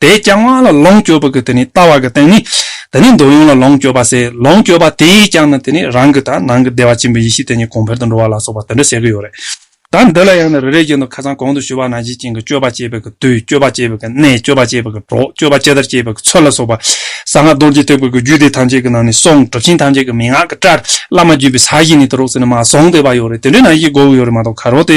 དེས་ཀྱང་དབང་ལ་ལོངས་སྤྱོད་པ་གི་དེ་ནི་ལྟ་བ་གི་རྟེན་ནི། དེ་ནི་འདོད་ཡོན་ལ་ལོངས་སྤྱོད་པ་སའི་ལོངས་སྤྱོད་པ་དེས་ཀྱང་ནི་དེ་ནི་རང་གི་དང་ནང་གི་བདེ་བ་ཆེན་པོའི་ཡེ་ཤེས་དེ་ཉིད་གོང་འཕེལ་དུ་འགྲོ་བ་ལ་སོགས་པ་དེ་འདྲ་བཤད་ཀྱི་ཡོད་རེད། ད་འདི་ལ་ཡང་ནི་རེ་རེའི་རྒྱུན་དུ་ཁ་ཚང་གོང་དུ་ཞུས་པ་ན་གཞི་ཅན་གྱི་སྤྱོད་པ་སྤྱད་པའི་གི་དུས་སྤྱོད་པ་སྤྱད་པའི་གི་གནས་སྤྱོད་པ་སྤྱད་པའི་གི་གྲོགས་སྤྱོད་པ་སྤྱད་ལྟར་སྤྱད་པའི་གི་ཚུལ་ལ་སོགས་པ་གསང་སྔགས་རྡོ་རྗེ་ཐེག་པའི་གི་རྒྱུད་སྡེ་ཐམས་ཅད་ཀྱི་ནང་ནས་གསུངས་གྲུབ་ཆེན་ཐམས་ཅད་ཀྱི་མན་ངག་གི་སྐྲར་བླ་མ་བརྒྱུད་པའི་ས་གཞི་ནས་དུ་རོགས་ཟེར་ནས་མ་གསུངས་བསྡད་པ་ཡོད་རེད་དེ་འདྲའི་ནང་གཞི་འགོ་བོ་ཡོད་རེད་མ་གཏོགས་ག་རོགས་དེ་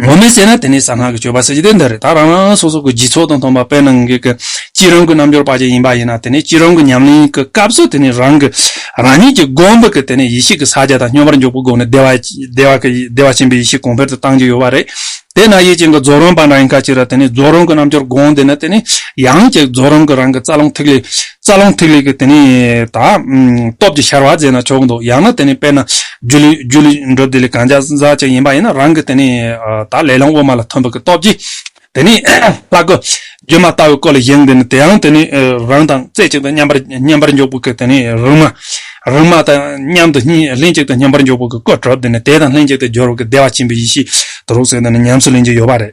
ངོ་མས་བཤད་ན་དེ་ནི་གསང་སྔགས་ཀྱི་སྤྱོད་པ་ཟེར་རྒྱུ་དེ་འདི་རེད་ད་རང་རང་སོ་སོ་གི་རྗེས་ཚོགས་དང་མཐོང་པ་དཔེར་ན་ངེད་ཀྱི་གཅིག་རང་གི་རྣམ་འབྱོར་པ་ཅིག་ཡིན་པ་ཡིན་ན་དེ་ནི་གཅིག་རང་གི་ཉམས་ལེན་གྱི་སྐབས་སུ་དེ་ནི་རང་གི་རང་ཉིད་ཀྱི་སྒོམ་པ་གྱི་དེ་ནི་ཡེ་ཤེས་ཀྱི་ས་བརྒྱ་དང་སྙོམས་པར་འཇུག་པའི་སྒོ་ནས་བདེ་བ་ཆེན་པོའི་ཡེ་ཤེས་གོང་འཕེལ་དུ་བཏང་གི་ཡོད་པ་རེད། དེས་ན་ཡིད་ཅན་གྱི་རྫོགས་རང་པ་འདྲ་ཡིན་ཁ་ཅིག་ལ་དེ་ནི་རྫོགས་རང་གི་རྣམ་འབྱོར་སྒོམ་དེ་ནི་དེ་ནི་ཡང་ཅིག་རྫོགས་རང་གི་རང་གི་རྩ་རླུང་ཐིག་ལེ་རྩ་རླུང་ཐིག་ལེ་ཀྱི་དེ་ནས་དང། སྟོབས་ཀྱི་ཤར་བ་རྫས་ན་ཆོག་འདུག་ཡང་ན་དེ་ནས་དཔེར་ན། རྒྱུ་ལུས་རྒྱུ་ལུས་འགྲུབ་དེ་ལས་གང་ཅག་ཟག་བཅས་ཡིན་པ་ཡིན་ན་རང་གི་དེ་ནས་དང་ལས་རླུང་དབུ་མ་ལ་ཐིམ་པ་ཀྱི་སྟོབས་ཀྱིས་དེ་ནས་ལྷ་སྐུ། སྒྱུ་མ་ལྟ་བུའི་སྐུ་ལ་བཞེངས་དེ་ནས་དེ་ཡང་དེ་ནས་རང་དང་རྩེ་གཅིག་ཏུ་མཉམ་པར་མཉམ་པར་འཇོག་པོ་ཀྱི་དེ་ནས་རིག་མ། རིག་མ་དང་མཉམ་དུ་ལྷན་ཅིག་ཏུ་མཉམ་པར་འཇོག་པོ་ཀྱི་སྐུ་གྲུབ་དེ་ནས་དེ་དང་ལྷན་ཅིག་ཏུ་སྦྱོར་བ་ཀྱི་བདེ་བ་ཆེན་པོའི་ཡེ་ཤེས་དུ་རུག་སོད་དེ་ནས་ཉམས་སུ་ལེན་རྒྱུ་ཡོད་པ་རེད།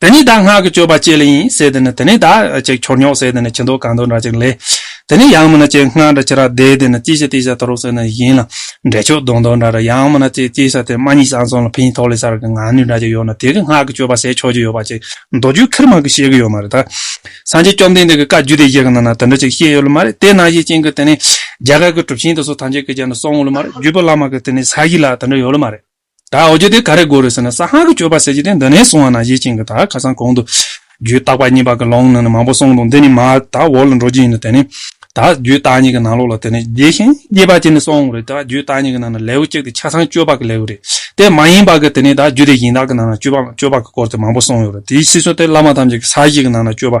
དེ་ནི་བདག་སྔགས་ཀྱི་སྤྱོད་པ་བསྐྱེད་ལས་ཡིན་ཟེར་དེ་ནི་དེ་ནི་བདག་ཅེས་འཁྱོར་ཉོག་ཟེར་དེ་ནི་ཁྱི་མདོག་གང་མདོག་འདྲ་ཅིག་ལས། དེ་ནི་ཡང་མིན་ན་ཅེས་སྔགས་འདྲ་ཅི་རག་བཟླས་དེ་ནི་ཅི་བྱ་ཏི་བྱ་ད་རུག་ཟེར་ནི་ཡིན་ལ། འབྲས་ཆོག་མདོག་མདོག་འདྲ་འདྲ་ཡང་མིན་ན་ཅེས་ཅི་བྱ་དེ་མ་གཉིས་སམ་གསུམ་ལ་ཕིང་ཐོག་ལས་སར་གྱི་ངང་ནུས་འདྲ་ཅིག་ཡོད་ན་དེ་གི་སྔགས་ཀྱི་སྤྱོད་པ་ཟད་ཆོག་ཅིག་ཡོད་པ་ཅིག་མདོ་རྒྱུད་ཁིར་མང་གིས་བཤད་གི་ཡོད་མ་རེད་ད། སངས་རྒྱས་བཅོམ་ལྡན་འདས་ཀྱི་བཀའ་བརྒྱུད་དེ་ཞིག་གི་ནང་ན་དེ་འདྲ་ཅིག་བཤད་ཡོད་ལ་མ་རེད་དེ་ནང་བཞིན་བྱིན་གྱིས་དེ་ནི་རྒྱ་གར་གྱི་གྲུབ་ཆེན་དེ་ཚོ་ཐམས་ཅད་ཀྱིས་ཀྱང་ནི་གསུང་ལ་མ་རེད་བརྒྱུད་པ་བླ་མ་གིས་དེ་ནི་ས་གཞི་ལ་དེ་འདྲ་ཡོད་ལ་མ་རེད། ད་འོ་རྒྱུ་དེ་ག་རེ་དགོས་རེད་ཟེར་ན་ས་ཧང་གི་སྤྱོད་པ་ཟེར་གྱི་དེ་འདི་ནས་བཟུང་བ་ན་གཞི་བྱིངས་ཀྱི་ད་ཁ་སང་གོང་དུ། རྒྱུའི་རྟག་པ་གཉིས་པ་གི་ལོང་ནང་ནས་མང་པོ་གསུངས་འདུག་འདི་ནི་མ་ད་འོག་ལ་འགྲོ་རྒྱུ་ཡིན་ནོ་དེ་ནི། ད་རྒྱུའི་རྟག་གཉིས་ཀྱི་ནང་ལོགས་ལ་དེ་ནི་རྒྱས་ཤིང་རྒྱས་པ་གཅིག་ནི་སོང་བ་རེད་ད་རྒྱུའི་རྟག་གཉིས་ཀྱི་ནང་ན་ལེའུ་གཅིག་དེ་ཆ་ཚང་སྤྱོད་པ་གི་ལེའུ་རེད་དེ་མ་ཡིན་པ་གི་དེ་ནི་ད་རྒྱུ་དེ་བཞིན་དག་གི་ནང་ན་སྤྱོད་པ་སྤྱོད་པ་གི་སྐོར་དེ་མང་པོ་གསུངས་ཡོད་རེད་དེའི་ཕྱིས་སུ་དེ་བླ་མ་ཐམས་ཅད་ཀྱི་ས་གཞི་གི་ནང་ན་སྤྱོད་པ།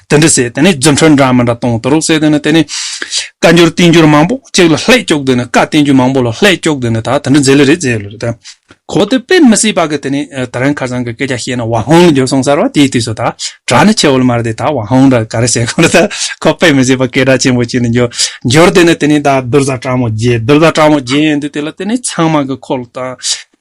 དེ་འདྲ་ཟེར་དེ་ནི་རྫུན་ཕྲ་འདྲ་མི་འདྲ་གཏོང་གཏོར་རོགས་ཟེར་དེ་ནི་དེ་ནི། བཀའ་འགྱུར་བསྟན་འགྱུར་མང་པོ་གཅིག་ལ་ལྷད་སྐྱོགས་དེ་ནི་བཀའ་བསྟན་འགྱུར་མང་པོ་ལ་ལྷད་སྐྱོགས་དེ་ནི་ད་དེ་འདྲ་མཛད་ལེ་རེད་ཟེར་ལོ་རེད། གོ་དེ་དཔེ་མི་སྲིད་པ་གི་དེ་ནི་ད་རན་ཁ་སང་གི་སྐད་ཆ་བཤད་ན་བ་ཧོང་ལ་འགྱུར་སོང་ཟེར་བ་དེའི་དུས་སུ་ད་གྲྭ་ནི་ཆེ་བོ་ལ་མ་རེད་དེ་ད་བ་ཧོང་འདྲ་ག་རེ་བྱེད་དགོས་རེད་ད་ཁོ་དཔེ་མི་སྲིད་པ་སྐད་གྲགས་ཆེན་པོ་བྱེད་ནི་འགྱུར་འགྱུར་དེ་ནི་དེ་ནི་ད་བདུད་བཟའ་དྲག་མོ་རྗེ་བདུད་བཟའ་དྲག་མོ་རྗེ་ཡིན་དུས་དེ་ལ་དེ་ནི་ཚང་མ་གི་ཁོ་ལ་ད་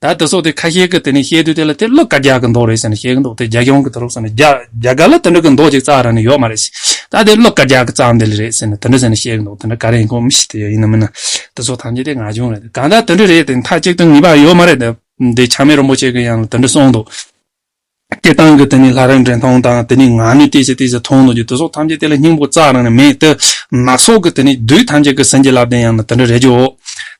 ད་ལྟ་སོགས་དེ་ཁ་ཤེལ་གྱི་དེ་ནས་བཤད་དུས་དེ་ལ་དེ་བློ་དཀར་རྒྱག་གི་མདོག་རེད་ཟེར་ནས་བཤད་གི་འདུག་དེ་རྒྱ་གཞུང་གི་དུར་ཁྲོད་སོགས་ནས་རྒྱ་རྒྱ་གར་ལ་དེ་འདྲ་གི་མདོག་ཅིག་བཙག་ར་ནི་ཡོད་མ་རེད། ད་དེ་བློ་དཀར་རྒྱག་གི་བཙག་འདི་ལ་རེད་ཟེར་ནས་དེ་འདྲ་ཟེར་ནས་བཤད་གི་འདུག་དེ་འདྲ་ག་རེ་ཡིན་ཁོ་མི་ཤེས་དེ་ཡིན་ནམ་མིན་ནམ། དེ་སོགས་ཐམས་ཅད་དེ་ང་གཞུང་རེད་དེ་གང་ལྟར་དེ་འདྲ་རེད་དེ་མཐའ་གཅིག་ཏུ་ངེས་པ་ཡོད་མ་རེད་དེ། དེ་ཆགས་མེད་རིན་པོ་ཆེ་གི་ཡང་ལ་དེ་འདྲ་གསུངས་འདུག། སྐད་གདངས་ཀྱི་དེ་ནི་ལྷ་རིགས་འདྲེན་མཐོང་དང། དེ་ནི་ངག་ནི་སྐད་ཅིག་དེ་བཞིན་མཐོང་ནོ་ཅི། དེ་སོགས་ཐམས་ཅད་དེ་ལ་སྙིང་པོ་རྩ་རང་ནི་མེད། ནག་སོགས་ཀྱི་དེ་ནི་བདུད་ཐམས་ཅད་ཀྱི་ཟན་གྱི་བླ་བརྟན་ཡང་ན་དེ་འདྲ་རེད་ཀྱིའོ།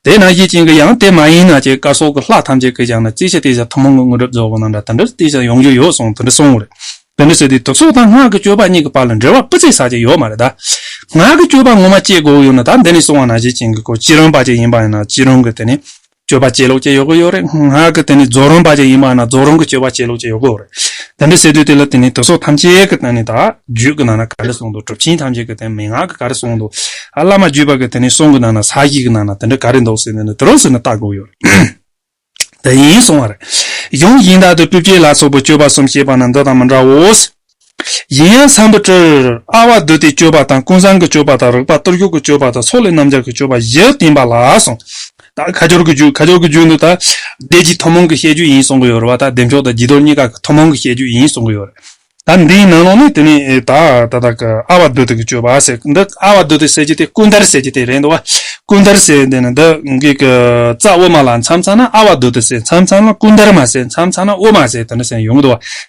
དེས་ན་གཞི་ཅན་གྱི་ཡང་དེ་མ་ཡིན་ན་ཅི་སྐར་སོགས་ཀྱི་ལྷ་ཐམས་ཅད་ཀྱིས་ཀྱང་ན་ཅི་ཞིག་དེ་བཞིན་ཐུན་མོང་གི་དངོས་གྲུབ་རྫོགས་པ་ན་འདྲ་དེ་འདྲར་དེ་བཞིན་ཡོང་རྒྱུ་ཡོད་གསུངས་དེ་འདྲ་གསུངས་རེད། དེ་འདྲ་བྱས་ཏེ་དུག་སོགས་དང་སྔགས་ཀྱི་སྤྱོད་པ་གཉིས་ཀྱི་བར་ལ་འབྲེལ་བ་སྤུ་ཙིག་ཟ་ཆེད་ཡོད་མ་རེད་ད། ངག་གི་སྤྱོད་པ་ངོ་མ་སྐྱེ་དགོས་ཡོད་ན་ད་འདི་ནས་གསུངས་བ་ན་གཞི་ཅན་གྱི་གོ་ཅི་རང་པ་ཅིག་ཡིན་པ་ཡང་ན་ཅི་རང་གི་དེ་ནི། སྤྱོད་པ་བྱེད་ལུགས་ཀྱི་ཡོད་གོ་ཡོད་རེད། ང་གི་དེ་ནི་རྫོགས་རུང་བ་ཅིག་ཡིན་པ་ན་རྫོགས་རུང་གི་སྤྱོད་པ་བྱེད་ལུགས་ཅིག་ཡོད་གོ་རེད། དེ་འདྲ་བྱེད་དུས་དེ་ལ་དེ་ནི་དུས་སོགས་ཐམས་ཅད་ཀྱི་སྟེང་ནས་དང། རྒྱུད་ཀྱི་ནང་ན་ག་རེ་གསུངས་འདུག་གྲུབ་ཆེན་ཐམས་ཅད་ཀྱི་སྟེང་མན་ངག་གི་ག་རེ་གསུངས་འདུག། བླ་མ་བརྒྱུད་པ་ཀྱི་དེ་ནི་གསུང་གི་ནང་ན་ས་གཞི་གི་ནང་ན་དེ་འདྲ་ག་རེ་འདུག་ཟེར་ནས་ནི་དེ་རུ་ཟེར་ནས་བལྟ་དགོས་ཡོད་རེད། དེ་ཡིན་གསུངས་བ་རེད། གཞུང་ཡིན་དག་ཏུ་སྤྲུལ་སྐྱེས་ལ་སོགས་པའི་སྤྱོད་པ་གསུམ་བཤད་པ་ན་འདི་དང་མི་འདྲའོ། གཞན་ཡང་བསམ་པ་སྤྲོས། ཨ་བ་བདུད་སྡེའི་སྤྱོད་པ་དང་ཀུན་བཟང་གི་སྤྱོད་པ་དང་རིག་པ་གཏོར་སྐྱོགས་ཀྱི་སྤྱོད་པ་དང་ཚོགས་ལས་རྣམ་རྒྱལ་གྱི་སྤྱོད་པ་བཞི་བསྟན་པ་ལགས་སོ། ཁ་སྦྱོར་གྱི་རྒྱུད་ཁ་སྦྱོར་གྱི་རྒྱུད་འདི་དག་བཟླས་རྗེས་ཐུན་མོང་གི་བཤད་རྒྱུད་ཡིན་གསུང་གི་ཡོད་རེད་བ་དག་བདེ་མཆོག་དང་སྦྱི་དོར་གཉིས་ཀ་ཐུན་མོང་གི་བཤད་རྒྱུད་ཡིན་གསུང་གི་ཡོད་རེད། ད་འདིའི་ནང་ལོགས་ནས་དེ་ནས་ད་ད་ད་གི་ཨ་བ་བདུད་སྡེ་གི་སྤྱོད་པ་ཟེར་གི་འདི་ཨ་བ་བདུད་སྡེ་ཟེར་གྱི་དེ་ཀུན་དར་ཟེར་གྱི་དེ་རེད་འདུག་བ་ཀུན་དར་ཟེར་དེ་ནི་འདི་གི་གི་རྩ་དབུ་མ་ལ་མཚམས་ཚང་ན་ཨ་བ་བདུད་སྡེ་ཟེར་མཚམས་ཚང་ན་ཀུན་དར་མ་ཟེར་མཚམས་ཚང་ན་དབུ་མ་ཟེར་དེ་འདྲ་ཟེར་ཡོང་གི་འདུག་བ་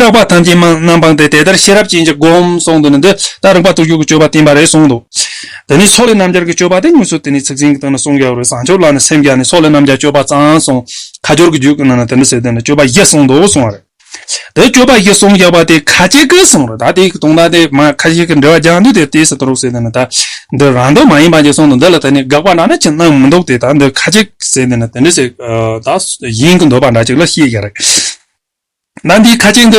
སྐྲག་པ་ཐམས་ཅད་སྨྲ་རྣམ་སྤངས་ཏེ་དེ་ལྟར་ཤེས་རབ་ཅན་གྱིས་བསྒོམ་གསུངས་འདི་ནི་འདི་ལྟར་རིག་པ་དུར་འཇུག་གི་སྤྱོད་པ་བསྟན་པ་རེད་གསུངས་འདུག་དེ་ནས་ཚོགས་ལས་རྣམ་རྒྱལ་གྱི་སྤྱོད་པ་དེ་ཉུང་ཚུལ་དེ་ནི་ཚིག་ཟིན་གྱི་སྟེང་ན་གསུངས་ཀྱི་ཡོད་རེད་བཟང་སྤྱོད་ལ་ནི་སེམས་བསྐྱེད་ནས་ཚོགས་ལས་རྣམ་རྒྱལ་སྤྱོད་པ་གཙང་གསུངས་ཁ་སྦྱོར་གྱི་རྒྱུད་ཀྱི་ནང་ན་དེ་འདྲ་ཟེར་དེ་ནི་སྤྱོད་པ་བཞི་གསུངས་འདུག་གསུངས་བ་རེད། དེ་སྤྱོད་པ་བཞི་གསུངས་ཀྱི་བ་དེ་ཁ་ཅིག་གིས་གསུངས་རེད་ད་དེ་ཡི་གི་དུང་ད་དེ་མ་ཁ་ཅིག་གིས་འདྲི་བ་རྒྱག་འདུག་དེ་ལྟའི་སི་ཏུ་རུག་ཟེར་དེ་ནི་ད་འདི་རང་དོན་མ་ཡིན་པ་ཅིག་གསུངས་འདུག་འདི་ལ་དེ་ནི་དགག་པ་འདྲ་ན་ཅི་གནང་མི་འདུག་དེ་ད་འདི་ཁ་ཅིག་གིས་ཟེར་དེ་ནི་དེ་འདྲ་ཟེར་ད་ཡིན་གྱི་འདོད་པ་འདྲ་ཅིག་ལ་ཤེས་ཀྱི་རེད། ཟླ་འདིའི་ཁ་ཆེན་དུ་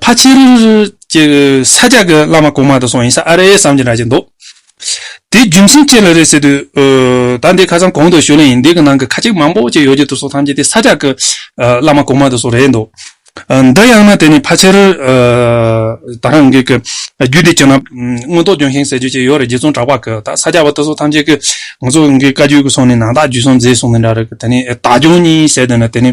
ཕ་ཆེ་རུ་ཀྱི་ས་ཆ་གི་བླ་མ་གོང་མ་དུ་སོང་ཡིན་ས་ཨ་རེད་བསམ་གྱི་འདྲ་གྱི་འདུག་དེའི་རྒྱུ་མཚན་ཅི་ལ་རེད་ཟེར་དུས། ཟླ་འདིའི་ཁ་སང་གོང་དུ་ཞུ་ལན་ཡིན་འདི་གི་ནང་གི་ཁ་ཆེན་མང་པོ་ཅིག་ཡོད་ཀྱི་འདུག་སོགས་ཐམས་ཅད་དེ་ས་ཆ་གི་བླ་མ་གོང་མ་དུ་སོགས་རེད་འདུག་འདི་ཡང་ན་དེ་ནི་ཕ་ཆེ་རུ་ད་རང་གི་རྒྱུད་སྡེ་ཁྱོད་ན་མངོན་རྟོགས་ལྗོན་ཤིང་ཟེར་རྒྱུ་ཅིག་ཡོད་རེད་རྗེ་བཙུན་གྲགས་པ་གི་ད་ས་ཆ་བ་དུ་སོགས་ཐམས་ཅད་ཀྱི་ང་ཚོ་གི་བཀའ་རྒྱུད་ཀྱི་སོང་ནི་ནང་རྟགས་རྒྱུད་སོང་མཛེས་སོང་གི་འདྲ་རེད་གི་དེ་ནི་ད་ལྗོངས་གཉིས་ཟེར་དུས་ན་དེ་ནི།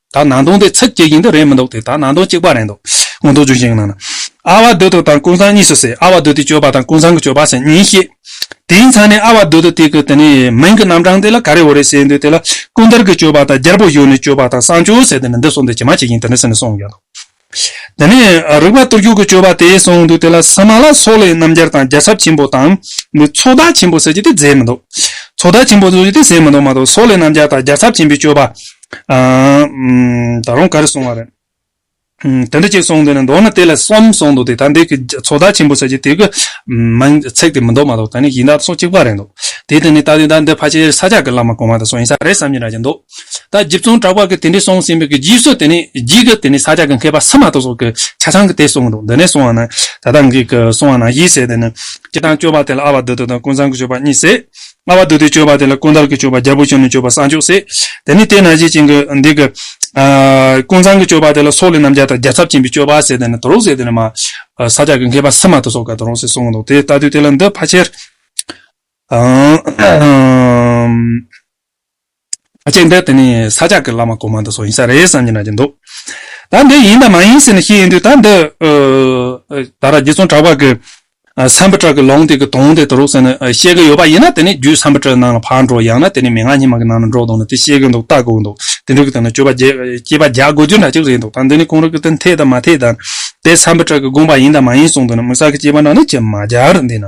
ད་ནང་སྟོང་དེ་ཚིག་གཅིག་ཡིན་དུ་རེད་མི་འདུག་དེ་ད་ནང་སྟོང་གཅིག་པ་རེད་འདུག་ངོ་འདུག་ཅུང་ཞིག་གི་ནང་ན། ཨ་བ་དོད་དོ་དང་ཀུན་བཟང་གཉིས་སུ་ཟེར་ཨ་བ་དོད་དེ་སྤྱོད་པ་དང་ཀུན་བཟང་གི་སྤྱོད་པ་ཟེར་གཉིས་ཤེས། དེའི་མཚན་ནས་ཨ་བ་དོད་དོ་དེ་གི་དེ་ནི་མིང་གི་རྣམ་གྲངས་དེ་ལ་ག་རེ་འོ་རེ་ཟེར་འདུག་དེ་ལ་ཀུན་དར་གི་སྤྱོད་པ་དང་རྒྱལ་པོ་གཞུག་ནས་སྤྱོད་པ་དང་བསང་ཆུ་ཟེར་དེ་ནི་འདི་སོགས་འདི་ཇི་མ་ཇི་བཞིན་དེ་འདྲ་ཟེར་ནས་གསུངས་ཡོད་འདུག་དེ་ནས་རིག་པ་གཏོར་རྒྱུག་གི་སྤྱོད་པ་དེ་གསུངས་འདུག་དེ་ལ་ས་མ་ལ་སོགས་ལས་རྣམ་རྒྱལ་དང་རྒྱལ་ཚབ་ཆེན་པོ་དང། ཚོགས་བདག་ཆེན་པོ་ཟེར་རྒྱུ་དེ་མཛད་མི་འདུག་ཚོགས་བདག་ཆེན་པོ་ཟེར་རྒྱུ་དེ་མཛད་མི་འདུག་མ་གཏོགས་སོགས་ལས་རྣམ་རྒྱལ་དང་རྒྱལ་ཚབ་ཆེན་པོའི་སྤྱོད་པ། ད་རུང་ག་རེ་གསུངས་བ་རེད། དེ་འདྲ་ཅིག་གསུངས་འདུག་ནས་མདོར་ན་དེ་ལས་གསུམ་གསུངས་འདུག་དེ་ད་འདི་གི་ཚོགས་བདག་ཆེན་པོ་ཟེར་རྒྱུ་དེ་གི་ཚེག་དེ་མི་འདུག་མ་གཏོགས་ད་ནི་གཞི་བདག་སོགས་གཅིག་པ་རེད་འདུག་དེའི་སྟེང་ནས་ལྟ་དུས་ད་འདི་ཕ་ཆེ་ས་ཆག་གི་བླ་མ་གོང་མ་དེ་སོགས་ཡིན་ས་རེད་བསམ་གྱིན་ར་གྱིན་འདུག། ད་རྗེ་བཙོན་དྲག་པ་གི་དེ་འདྲས་སོང་ཟིན་པའི་གི་རྗེས་སུ་དེ་ནས་རྗེས་ཀི་དེ་ནས་ས་སྐྱ་གི་མཁས་པ་ས་མ་ཏོག་སོགས་གི་ཆ་ཚང་གི་དེ་སོང་འདུག་འདི་ནས་སོང་བ་ན་ད་ལྟ་འགི་གི་སོང་བ་ན་ཡིད་ཟེར་དེ་ནི་སྤྱི་དང་སྤྱོད་པ་དེ་ལ་ཨ་བ་དུ་ཏུ་དང་ཀུན་བཟང་གི་སྤྱོད་པ་གཉིས་ཟེར། ཨ་བ་དུ་ཏུའི་སྤྱོད་པ་དེ་ལ་ཀུན་དགའ་གི་སྤྱོད་པ་རྒྱལ་པོ་ཆེན་མོའི་སྤྱོད་པ་ས་མཆོག་ཟེར། དེ་ནས་དེ་ན་གཞི་ཅན་གི་འདི་གི། ཀུན་བཟང་གི་སྤྱོད་པ་དེ་ལ་སོག་ལེ་རྣམ་རྒྱལ་དང་རྒྱལ་ཚབ་ཅན་པའི་སྤྱོད་པ་ཟེར་དེ་ནི་དུ་རོག་ཟེར་དེ་ནི་མ། ས་སྐྱ་གི་མཁས་པ་ས་མ་ཏོག་སོགས་གི་དུ་རོག་ཟེར་སོང་འདུག་དེ་ལྟ་དུས་དེ་ལ་འདི་ཕ་ཆེར། ཅེས་འདོད་དེ་ནི་ས་སྐྱ་ཀྱི་བླ་མ་གོང་མ་འདི་སོགས་ཡིན་ས་རེད་བསམ་གྱི་ན་གྱི་འདུག། ད་འདི་ཡིན་དང་མ་ཡིན་ཟེར་ནས་ཤེས་ཡོན་དུས་ད་འདི། ད་ར་རྗེ་བཙུན་གྲགས་པ་གི་ཟམ་པི་ཏྲ་གི་ལུང་དེ་གི་དོན་དེ་དུ་རུག་ཟེར་ནས་བཤད་གི་ཡོད་པ་ཡིན་ན་དེ་ནི་རྒྱུད་ཟམ་པི་ཏྲའི་ནང་ལ་ཕར་འགྲོ་ཡང་ན་དེ་ནི་མན་ངག་ཉི་མ་གི་ནང་ལ་འགྲོ་དང་ནི་དེ་བཤད་གི་འདུག་ལྟ་དགོས་འདུག་དེ་འདྲ་གི་དོན་ལ་སྤྱོད་པ་སྐྱེས་པ་རྒྱག་དགོས་རྒྱུ་འདྲ་གཅིག་རེད་འདུག་ད་འདི་ནི་གོང་རིག་གི་དོན་འཐད་དང་མ་འཐད་དང། དེ་ཟམ་པི་ཏྲ་གི་དགོངས་པ་ཡིན་དང་མ་ཡིན་གསུང་དོན་ནི་མི་ཟ་གི་སྐྱེས་པ་འདྲ་ནི་ཅི་མ་རྒྱག་རུ་འདི་ན།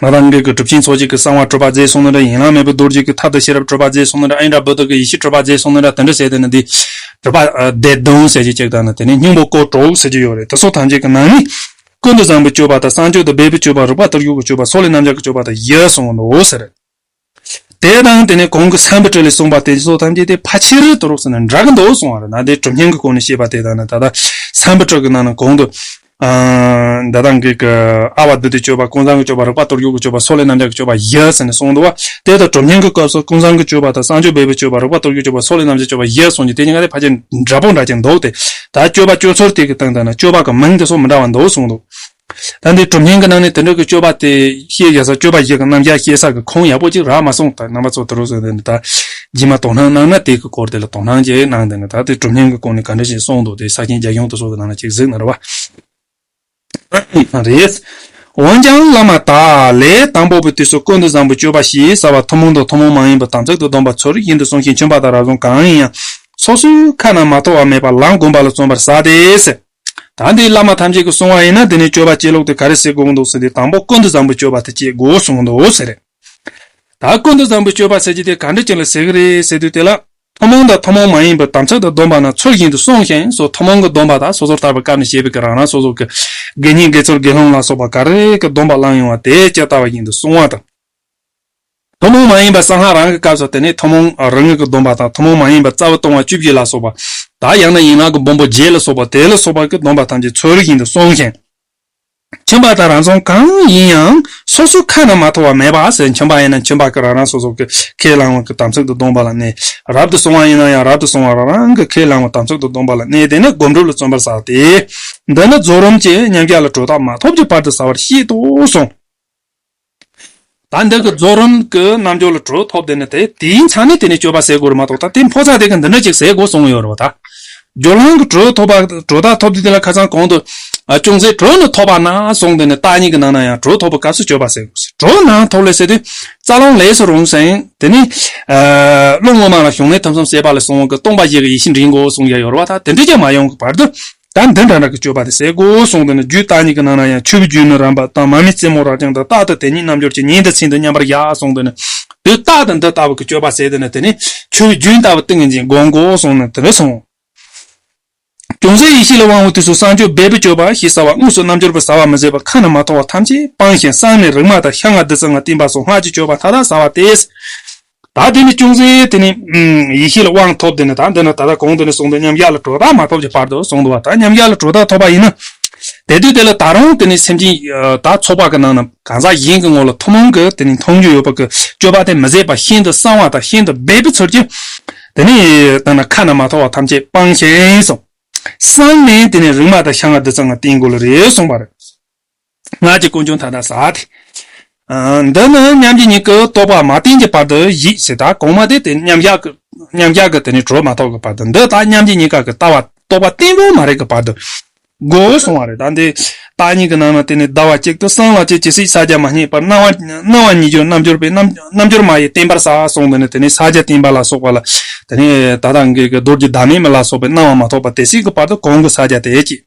ང་རང་གི་གྲུབ་ཆེན་ཚོགས་གཅིག་གི་གསང་བ་སྤྲོས་པ་རྫས་གསུང་ནི་ར་ཡན་ལག་མེད་པའི་རྡོ་རྗེ་གི་ཐབས་དང་ཤེས་རབ་སྤྲོས་པ་རྫས་གསུང་ནི་ར་ཨིན་དྲ་བོད་དུ་གི་ཡེ་ཤེས་སྤྲོས་པ་རྫས་གསུང་ནི་ར་དོན་འགྲེལ་ཟེར་དེ་ནི་འདི། སྤྲོས་པ་བདེ་སྟོང་ཟེར་གྱི་གཅིག་དང་ནི་དེ་ནས་སྙིང་པོ་སྐོར་དྲུག་ཟེར་གྱི་ཡོད་རེད་དེ་སོགས་ཐམས་ཅད་ཀྱི་ནང་ནས། ཀུན་ཏུ་བཟང་པོའི་སྤྱོད་པ་དང་གསང་སྤྱོད་དང་སྦས་པའི་སྤྱོད་པ་རིག་པ་དར་ཡུག་གི་སྤྱོད་པ་སོགས་ལས་རྣམ་གཞག་གི་སྤྱོད་པ་དང་ཡིད་གསུམ་གྱི་ནོར་བུ་ཟེར། དེ་དང་དེ་ནས་གོང་གི་བསམ་པའི་དྲོད་ལས་གསུངས་པ་དེ་སོགས་ཐམས་ཅད་དེ་ཕ་ཕྱིར་དུ་རོ་ཟེར་ན་འདྲ་གི་འདུག་གསུངས་བ་རེད་ན་དེ་གྲུབ་བརྙན་གྱི་སྐོར་ནས་བཤད་པ་དེ་དང་ནི་ད་ལྟ་བསམ་པའི་དྲོད་ཀྱི་ནང་ན་གོང་དུ་ཟླ་དང་གི་གི་ཨ་བ་དུ་ཏིའི་སྤྱོད་པ་ཀུན་བཟང་གི་སྤྱོད་པ་རིག་པ་གཏོར་རྒྱུག་གི་སྤྱོད་པ་སོགས་ལས་རྣམ་བཞག་གི་སྤྱོད་པ་བཞི་ཟེར་ནས་གསུངས་འདུག་བ་དེ་དང་གྲུབ་བརྙན་གྱི་སྐབས་སུ་ཀུན་བཟང་གི་སྤྱོད་པ་དང་གསང་སྤྱོད་འབེབས་པའི་སྤྱོད་པ་རིག་པ་གཏོར་རྒྱུག་སྤྱོད་པ་སོགས་ལས་རྣམ་བཞག་གི་སྤྱོད་པ་བཞི་གསུངས་རྒྱུ་དེ་གཉིས་ཀ་དེ་ཕ་ཆེར་འདྲ་པོ་འདྲ་ཆེར་འདུག་སྟེ་ད་སྤྱོད་པ་སྤྱོད་ཚུལ་དེ་གི་སྟེང་དུ་ནི་སྤྱོད་པ་གྱི་མིང་དེ་སོགས་མི་འདྲ་བ་འདུག་གསུངས་འདུག་ད་ནི་གྲུབ་སྙིང་གི་ནང་ནས་དེ་འདྲ་གི་སྤྱོད་པ་དེ་ཤེས་བཞག་ས་སྤྱོད་པ་ཞིག་གི་རྣམ་གཞག་ཤེས་ས་གི་ཁུངས་ཡག་པོ་ཅིག་རག་མ་སོང་ད་ནང་པ་ཚོ་དེ་རུ་སོང་དེ་ནི་ད་ཇི་མ་དོ་སྣང་གནང་ན་དེ་གི་སྐོར་དེ་ལ་དོ་སྣང་ཅིག་གནང་དེ་ནི་ད་དེ་གྲུབ་སྙིང་གི་སྐོར་ནས་ག་འདྲ་ཞིག་གསུངས་འདུག་དེ་ས་ཁྱིན་རྒྱ་གཞུང་དེ་ཚོ་གི་ནང་ན་ཅིག་གཟིགས་ན་རེ་བ། ཨང་རེད། འོན་ཀྱང་བླ་མ་དག་ལས་དང་པོ་པའི་དུས་སུ་ཀུན་ཏུ་བཟང་པོའི་སྤྱོད་པ་ཞེས་བྱ་བ་ཐུན་མོང་དང་ཐུན་མོང་མ་ཡིན་པ་དམ་ཚིག་ཏུ་སྡོམ་པ་ཚུལ་བཞིན་དུ་བསྲུང་ཞིང་བྱོན་པ་དག་རབ་བྱུང་གང་ཡིན་ཡང་སོ་སོའི་ཁ་ན་མ་ཐོ་བ་མེད་པར་ལམ་བསྒོམ་པ་ལ་བརྩོན་པར་བྱ་སྟེ། ད་འདི་བླ་མ་ཐམས་ཅད་ཀྱི་གསུང་བ་ཡིན་ན་འདི་ནས་སྤྱོད་པ་སྤྱི་ལོག་དེ་ག་རེ་ཟེར་དགོས་ཀྱི་འདུག་ཟེར་ཏེ་དང་པོ་ཀུན་ཏུ་བཟང་པོའི་སྤྱོད་པ་དེ་སྤྱད་དགོས་གསུང་གི་འདུག་ཟེར། ད་ཀུན་ཏུ་བཟང་པོའི་སྤྱོད་པ་ཟེར་གྱི་དེ་ག་འདྲ་ཅིག་ལ་ཟེར་གྱི་རེད་ཟེར་དུས་དེ་ལ། ཐུན་མོང་དང་ཐུན་མོང་མ་ཡིན་པའི་དམ་ཚིག་དང་སྡོམ་པ་ན་ཚུལ་བཞིན་དུ་བསྲུང་ཞིང་སོགས་ཐུན་མོང་གི་སྡོམ་པ་དག་སོ་སོར་ཐར་པའི་སྐབས་ནས་བཤད་པའི་གི་རང་རང་སོ་སོ་གི་དགེ་བསྙེན་དགེ་ཚོར་དགེ་སློང་ལ་སོགས་པ་ག་རེ་གི་སྡོམ་པ་བླངས་ཡོང་བ་དེ་སྤྱད་ལྟ་བ་བཞིན་དུ་བསྲུང་བ་དང། ཐུན་མོང་མ་ཡིན་པ་སང་ཧ་རང་གི་སྐབས་སུ་དེ་ནི་ཐུན་མོང་རང་ངོས་ཀྱི་སྡོམ་པ་དང་ཐུན་མོང་མ་ཡིན་པ་རྩ་བ་སྟོང་བ་བཅུ་བཞི་ལ་སོགས་པ་དང་ཡང་ན་ཡན་ལག་གི་སྦོམ་པོ་བརྒྱད་ལ་སོགས་པ་དེ་ལ་སོགས་པ་ཀྱི་སྡོམ་པ་ཐམས་ཅད་ཚོལ་བཞིན་དུ་སོང་ཞིང་མཁྱེན་པ་དང་རང་མཚུངས་གང་ཡིན་ཡང་སོ་སོའི་ཁ་ན་མ་ཐོ་བ་མེད་པ་ཟད་མཁྱེན་པ་ཡིན་ན་མཁྱེན་པ་ཀྱི་རང་རང་སོ་སོ་ཀྱི་ཁས་བླང་བ་ཀྱི་དམ་ཚིག་ཏུ་སྡོམ་པ་ལ་གནས། རབ་ཏུ་བཟུང་བ་ཡིན་ན་ཡང་རབ་ཏུ་བཟུང་བ་རང་རང་གི་ཁས་བླང་བ་དམ་ཚིག་ཏུ་སྡོམ་པ་ལ་གནས་དེ་ནི་སྒོམ་སྒྲུབ་ལ་བརྩོན་པར་ཟག་སྟེ། འདི་ནི་རྫོགས་རིམ་གྱི་ཉམས་བརྒྱ་ལ་དྲོད་རྟགས་མ་ཐོབ་ཀྱི་བར་དུ་ཟ་བར་བཤད་དུ་གསུངས། ད་འདི་གི་རྫོགས་རིམ་གྱི་རྣལ་འབྱོར་ལ་གྲོལ་ཐོབ་དེ་ནི་དེ་དེའི་མཚན་ནི་དེ་ནས་སྤྱོད་པ་ཟད་དགོས་རུ་མ་གཏོགས་ད་དེ་འཕོ་ཚག་དེ་གི་འདི་འདྲ་ཅིག་ཟད་དགོས་གསུངས་ཡོད་རུ་དང། སྦྱོར་ལམ་གྱི་གྲོལ་ཐོབ་པ་གྲོལ་ཐག་ཐོབ་དེ་དེ་ལ་ཁ་ཚང་གོང་དུ། ཅུང་ཟད་གྲོལ་ནི་ཐོབ་པ་ན་གསུངས་དེ་ནི་བརྟག་གཉིས་ཀྱི་ནང་ན་ཡང་གྲོལ་ཐོབ་པའི་སྐབས་སུ་སྤྱོད་པ་ཟད་དགོས་ཟེར་གྲོལ་ན་ཐོབ་ལས་ཟེར་དུས་རྩ་ལོངས་ལས་སུ་རུང་ཞིང་དེ་ནི། བློ་དངོས་མ་ལ་ཞུགས་ནས་ཐུན་གསུམ་བཤད་པ་ལས་གསུངས་དགོས་སྟོང་པ་ཞིག་གི་ཡེ་ཤེས་འདྲེན་དགོས་གསུངས་ཡོད་རུ་བ་དང་དེ་འདྲ་ཅིག་མ་ཡོང་གི་བར་དུ། དང་འདི་འདྲ་རག་གི་སྤྱོད་པ་དེ་ཟས་གོ་གསུངས་དང་ནི་རྒྱུད་བཏགས་གཉིས་ཀྱི་ནང་ན་ཡང་ཆུ་བོའི་རྒྱུད་ནི་རམ་པ་དང་མ་མི་རྩེ་མོ་རག་ཀྱང་དང་རྟག་ཏུ་དེ་གཉིས་རྣམ་འབྱོར་གྱི་ཉིན་དང་ཚིག་འདི་མཉམ་པར་གཞག་གསུངས་དང་ནི། དུས་རྟགས་དང་འདི་ལྟ་བུ་གི་སྤྱོད་པ་ཟས་དེ་ནི་དེ་ནི་ཆུ་བོའི་རྒྱུན་ལྟ་བུ་ཏིང་ངེ་འཛིན་སྒོམ་གོ་གསུངས་ནི་དེ་འདྲ་གསུངས། ཅུང་ཟད་ཡེ་ཤེས་ལ་དབང་བའི་དུས་སུ་སངས་རྒྱས་འབད་པས་སྤྱོད་པ་ཞེས་བྱ་བ་དངོས་སུ་རྣམ་འབྱོར་པས་བཟའ་བ་མི་བཟད་པ་ཁ་ན་མ་ཐོ་བ་ཐམས་ཅད་སྤངས་ཤིང་བསྲངས་ནས་རིག་མ་དང་ཤ་ལྔ་བདུད་རྩི་ལྔ་བསྟིམ་པ་སོགས་སྔགས་ཀྱི་སྤྱོད་པ་མཐའ་དག་བྱ་བ་སྟེ། བདག་འདི་ནི་ཅུང་ཟད་དེ་ནི། ཡེ་ཤེས་ལ་དབང་ཐོབ་དེ་ནི་དང་འདི་ན་ད་ལྟ་གོང་དུ་ནས་གསུངས་པའི་མཉམ་གཞག་ལ་དྲོ་བདག་མ་ཐོབ་ཀྱི་བར་དུ་གསུངས་འདུག་བ་ད་མཉམ་གཞག་ལ་དྲོ་བདག་ཐོབ་པ་ཡིན་ན། དེ་དུས་དེ་ལ་ད་རུང་དེ་ནི་སེམས་ཅན་དག་ཚོགས་པ་གི་ནང་ན་གང་ཟག་གཞན་གྱི་ངོ་ལ་ཐུན་མོང་གི་དེ་ནི་མཐོང་རྒྱུ་ཡོད་པ་གི་སྤྱོད་པ་དེ་མི་ཟད་པ་ཤིན་ཏུ་གསང་བ་དང་ཤིན་ཏུ་སྦས་པའི་ཚུལ་གྱིས། དེ་ནི་ད་ན་ཁ་ན་མ་ཐོ་བ་ཐམས་ཅད་སྤངས་ཤིང་སོང། སངས་ནས་དེ་ནི་རིག་མ་དང་ཤ་ང་བདུད་རྩི་ལྔ་བསྟེན་དགོས་ལ་རེ་གསུངས་པ་རེད། སྔགས་ཀྱི་སྐུ་འབྱུང་མཐའ་དག་ཟག་སྟེ། འདི་ནི་མཉམ་རྗེས་གཉིས་ཀྱི་རྟོག་པ་མ་བསྟན་གྱི་བར་དུ་བཞིས་ཞེས་དང་གོང་མ་དེ་སྟེ་མཉམ་གཞག་གི་དེ་ནས་གྲོལ་མ་ཐོབ་ཀྱི་བར་དུ་འདི་དག་མཉམ་རྗེས་གཉིས་ཀ་གི་ལྟ་བ་རྟོག་པ་བརྟན་པོ་མ་རིག་གི་བར་དུ་སྒོ་སྲུང་བ་རེད་དང། འདི་དག་གཉིས་ཀྱི་ནང་ན་དེ་ནས་ཟླ་བ་གཅིག་ཏུ་སྲང་ལ་ཅི་ཇི་སྲིད་ས་བརྒྱ་མ་རྙེད་པར་སྣང་བ་ཉིད་ཀྱི་རྣམ་འགྱུར་པས་རྣམ་འགྱུར་མ་ཡི་བརྟན་པར་ཟག་གསུངས་འདི་ནི་དེ་ནས་ས་བརྒྱ་བརྟན་པ་ལ་སོགས་པ་ལ། ད་ལྟ་འགལ་གྱི་རྡོ་རྗེ་བདག་མེད་མ་ལ་སོགས་པའི་སྣང་བ་མ་ཐོབ་པ་དེ་སྲིད་ཀྱི་བར་དུ་གོང་གི་ས་བརྒྱ་དེ་སྐྱེ།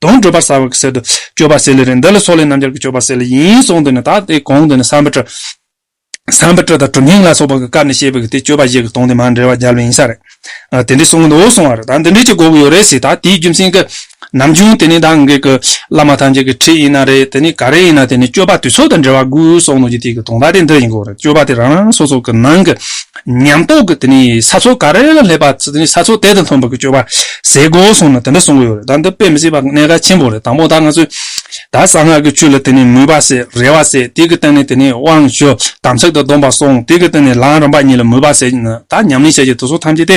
དོན་བགྲོད་པར་བྱ་བ་གསེར་དུ་སྤྱོད་པ་སེ་ལེ་རེད་འདི་ལ་སོགས་ལས་རྣམ་རྒྱལ་གྱི་སྤྱོད་པ་སེ་ལེ་ཡིན་གསུངས་དོན་ནི་ད་ལྟའི་གོང་དུ་ནི་བསམ་པ་ཁྲི། བསམ་པ་ཁྲི་དང་གྲུབ་སྙིང་ལ་སོགས་པ་གི་སྐབས་ནས་བཤད་པའི་གི་དེ་སྤྱོད་པ་བཞི་གི་དོན་དེ་མ་འབྲེལ་བ་རྒྱལ་བའི་ཡིན་ས་རེད། དེ་འདྲའི་གསུང་གི་འདུག་གསུང་བ་རེད་ད་འདི་འདྲའི་ཅིག་གོ་གི་ཡོད་རེད་ཟེར་ད་དེའི་རྒྱུ་མཚན་གི། ནམ་རྒྱུན་དེ་ནི་ད་ངས་གི་བླ་མ་ཐམས་ཅད་གི་ཁྲིད་ཡིན་ན་རེད་དེ་ནི་ག་རེ་ཡིན་ན་དེ་ནི་སྤྱོད་པ་དུས་ཚོད་དང་འབྲེལ་བ་དགོས་གསུངས་དོན་གྱི་དེ་གི་དོན་ད་དེ་འདི་ཡིན་གོ་རེད་སྤྱོད་པ་དེ་རང་རང་སོ་སོ་གི་ནང་གི། ཉམས་རྟོགས་ཀྱི་དེ་ནི་ས་ཚོགས་ག་རེ་ལ་སླེབས་པ་ཚུལ་དེ་ནི་ས་ཚོགས་དེ་དང་མཐུན་པར་གྱི་སྤྱོད་པ་ཟས་གོ་གསུངས་ནས་དེ་འདྲ་གསུངས་ཀྱི་ཡོད་རེད་ད་འདི་དཔེ་མི་སྲིད་པ་གནད་ག་ཆེན་པོ་རེད་དང་པོ་ད་ང་ཚོས་ད་གསང་སྔགས་ཀྱི་ཆོས་ལ་དེ་ནི་མོས་པ་ཟད་རེ་བ་ཟད་དེ་གི་སྟེང་ནས་དེ་ནི་དབང་ཞུ་དམ་ཚིག་དང་སྡོམ་པ་སྲོང་དེ་གི་སྟེང་ནས་ལམ་རིམ་པ་གཉིས་ལ་མོས་པ་ཟད་ན་ད་ཉམས་ལེན་བྱ་བྱེད་དུ་སོགས་ཐམས་ཅད་དེ་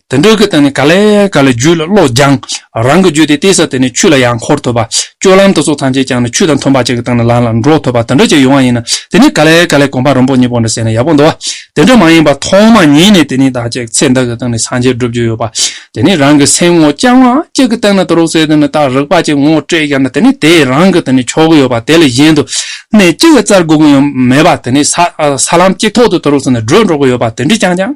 དེ་འགྲོ་གི་སྟེང་ནས་ག་ལེ་ག་ལེ་རྒྱུད་ལ་བློ་སྦྱང། རང་གི་རྒྱུད་དེ་གཏད་ས་དེ་ནས་ཆུ་ལ་ཡང་འཁོར་ཐུབ་པ། སྤྱོད་ལམ་དུ་སོགས་ཐམས་ཅད་བསྐྱངས་ནས་ཆུ་དང་མཐུན་པ་ཅིག་གི་སྟེང་ནས་ལམ་ལ་འགྲོ་ཐུབ་པ་དེ་འདྲ་ཅིག་ཡོང་བ་ཡིན་ན་དེ་ནི་ག་ལེ་ག་ལེ་གོམ་པ་རིང་པོ་གཉིས་པོ་འདྲ་བསྲེས་ན་ཡག་པོ་འདུག་དེ་འདྲ་མ་ཡིན་པར་ཐོག་མ་ཉིད་ནས་དེ་ནི་བདག་ཅེས་ཚེ་འདི་གི་སྟེང་ནས་སངས་རྒྱས་བསྒྲུབ་རྒྱུ་ཡོད་པ། དེ་ནི་རང་གི་སེམས་ངོ་བསྐྱང་བ་གཅིག་གི་སྟེང་ནས་དུ་རུ་སེ་དེ་ནས་བདག་རིག་པ་ཅིག་ངོ་སྤྲད་བཞག་ན་དེ་ནི་དེས་རང་གི་དེ་ནས་ཆོག་གི་ཡོད་པ་དེ་ལས་གཞན་དུ་གནས་གཅིག་གི་རྩར་སྒུག་གི་ཡོད་མེད་པ་དེ་ནི་ས་ལམ་གཅིག་ཐོག་ཏུ་དུ་རུ་སེ་ནས་བགྲོད་འགྲོ་གི་ཡོད་པ་དེ་འདྲ་བསྐྱངས་ཀྱང།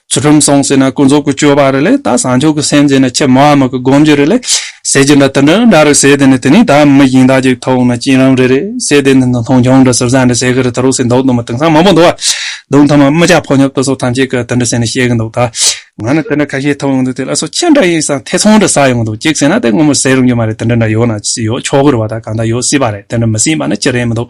ཚུལ་ཁྲིམས་སྲུང་ཟེར་ན་ཀུན་རྫོབ་ཀྱི་སྤྱོད་པ་རེད་ལས་ད་བཟང་ཕྱོགས་ཀྱི་སེམས་ཟེར་ན་ཁྱེད་མ་འམ་གྱི་སྒོམ་རྒྱུ་རེད་ལས། ཟེར་གྱི་འདྲ་དེ་འདྲ་འདྲ་རེད་ཟེར་དེ་ནི་དེ་ནི་ད་མི་གཞན་དག་གཅིག་ཐོག་ན་སྐྱིད་རང་རེད་རེད་ཟེར་དེ་ནི་འདི་མཐོང་ཆུང་འདྲ་ཟུར་ཟ་འདྲ་ཟེར་གྱི་རེད་ད་རུང་སེ་མདོག་དུ་མ་དེང་སང་མང་པོ་འདུག་བ་འདུག་མཐའ་མ་རྨི་ལྕག་ཕོ་ཉོབ་ཏུ་སོགས་ཐམས་ཅད་ཀྱི་དེ་འདྲ་ཟེར་ནས་བཤད་གྱི་འདུག་ད། ང་ནི་དེ་འདྲ་ཁ་ཤས་ཐོབ་ཡོང་དུས་དེ་ལ་སོ་ཁྱི་འདྲ་ཡིན་སང་ཐེ་ཚོམ་འདྲ་ཟ་ཡོང་གི་འདུག་གཅིག་ཟེར་ན་དེ་སྔོན་མོ་ཟེར་རུང་གྱི་མ་རེད་དེ་འདྲ་འདྲ་ཡོད་ན་ཡོད་ཆོག་གི་རེད་བ་ད་གང་ལྟར་ཡོད་སྲིད་པ་རེད་དེ་འདྲ་མི་སྲིད་པ་ནི་ཅི་རེད་མི་འདུག།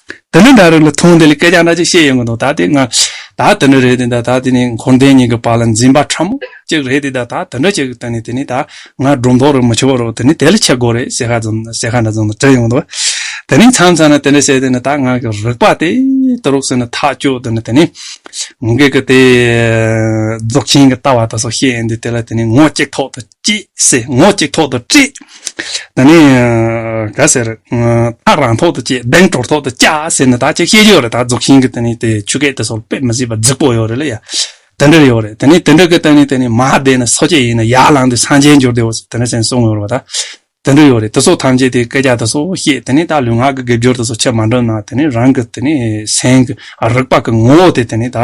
དེ་ནི་ད་རེས་ལ་ཐུག་འདི་ལ་སྐད་ཆ་འདྲ་ཅིག་བཤད་ཡོང་གི་འདུག་ད་དེ་ང་ད་དེ་འདྲ་རེད་དེ་ད་དེ་ནི་འཁོར་འདས་གཉིས་ཀྱི་བར་ལ་འཛིན་པ་ཕྲ་མོ་གཅིག་རེད་དེ་ད་ད་དེ་འདྲ་བྱེད་དོན་ནི་དེ་ནི་ད་ང་སྒྲོ་འདོགས་རེ་མི་ཆོད་པ་རོགས་དེ་ནི་དེ་ལ་ཆེ་དགོས་རེད་ཟེར་ཁ་ཙམ་ཟེར་ཁ་འདྲ་ཙམ་དྲན་ཡོང་གི་འདུག་དེ་ནི་མཚམས་མཚམས་ན་དེ་འདྲ་བྱས་དེ་ནི་ད་ང་གི་རིག་པ་དེ་དེ་རོགས་ཟེར་ནས་ཐག་གཅོད་དེ་ནི་དེ་ནི་ངེད་ཀྱི་དེ་རྫོགས་ཆེན་གྱི་ལྟ་བ་དེ་སོགས་བཤད་ཡོང་དུས་དེ་ལ་དེ་ནི་ངོ་གཅིག་ཐོག་ཏུ། ཅེས་ཟེར་ངོ་གཅིག་ཐོག་ཏུ་བཀྲི། ད་ནི། ག་ཟེར། ཐག་རང་ཐོག་ཏུ་བཅད་གདེང་གྲོར་ཐོག་ཏུ་བཅག་ཟེར་ནས་ད་ཅིག་བཤད་རྒྱུ་ཡོད་རེད་ད་རྫོགས་ཤིང་གི་དེ་ནི་དེ་ཆུ་སྐད་དེ་སོགས་དཔེ་མི་སྲིད་པ་རྫིག་པོ་ཡོད་རེད་ལ་ཡ། དེ་འདྲ་ཡོད་རེད་དེ་ནི་དེ་འདྲ་གི་དེ་ནི་དེ་ནི་མ་བསྡད་ནས་སོ་སྐྱེ་ཡིན་ན་ཡར་ལངས་དུས་སངས་རྒྱས་འགྱུར་དེ་འོ་ཟེར་དེ་འདྲ་ཟེར་ནས་གསུངས་ཡོད་རེད་བ་ད། དེ་འདྲ་ཡོད་རེད་དེ་སོགས་ཐམས་ཅད་དེ་སྐད་ཆ་དེ་སོགས་བཤད་དེ་ནས་ད་ལུས་ངག་གི་དགེ་སྦྱོར་དེ་སོགས་ཆེར་མ་འགྲུབ་ན་དེ་ནས་རང་གི་དེ་ནས་སེམས་ཀྱི་རིག་པ་གི་ངོ་བོ་དེ་དེ་ནས་ད་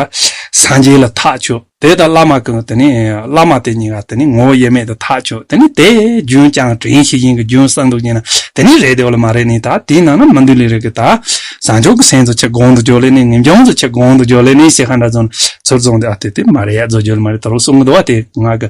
སངས་རྒྱས་ལ་ཐག་ཆོད་དེ་ད་བླ་མ་གི་དེ་ནས་བླ་མ་དེ་གཉིས་ཀ་དེ་ནས་ངོ་བོ་དབྱེར་མེད་དུ་ཐག་ཆོད་དེ་ནས་དེ་རྒྱུན་བསྐྱངས་དྲན་ཤེས་བཞིན་གྱི་རྒྱུན་བསགས་འདུག་ཅེ་ན་དེ་ནས་རེད་དེ་འོ་ལ་མ་རེད་ནས་ད་དེའི་ནང་ན་མི་འདུག་ལས་རེད་གི་ད་བཟང་ཕྱོགས་ཀྱི་སེམས་སུ་ཆེ་གོང་དུ་འཇོག་ལས་ནས་ངེས་འབྱུང་སུ་ཆེ་གོང་དུ་འཇོག་ལས་ནས་ཞེས་ཧ་འདྲ་བརྫོ་ན་ཚུར་བཙོང་དེ་ཨ་དེ་དེ་མ་རེད་ཡ་བརྫོ་རྒྱུ་ལ་མ་རེད་ད་རུང་གསུང་གི་འདུག་བ་དེ་ངག་གི་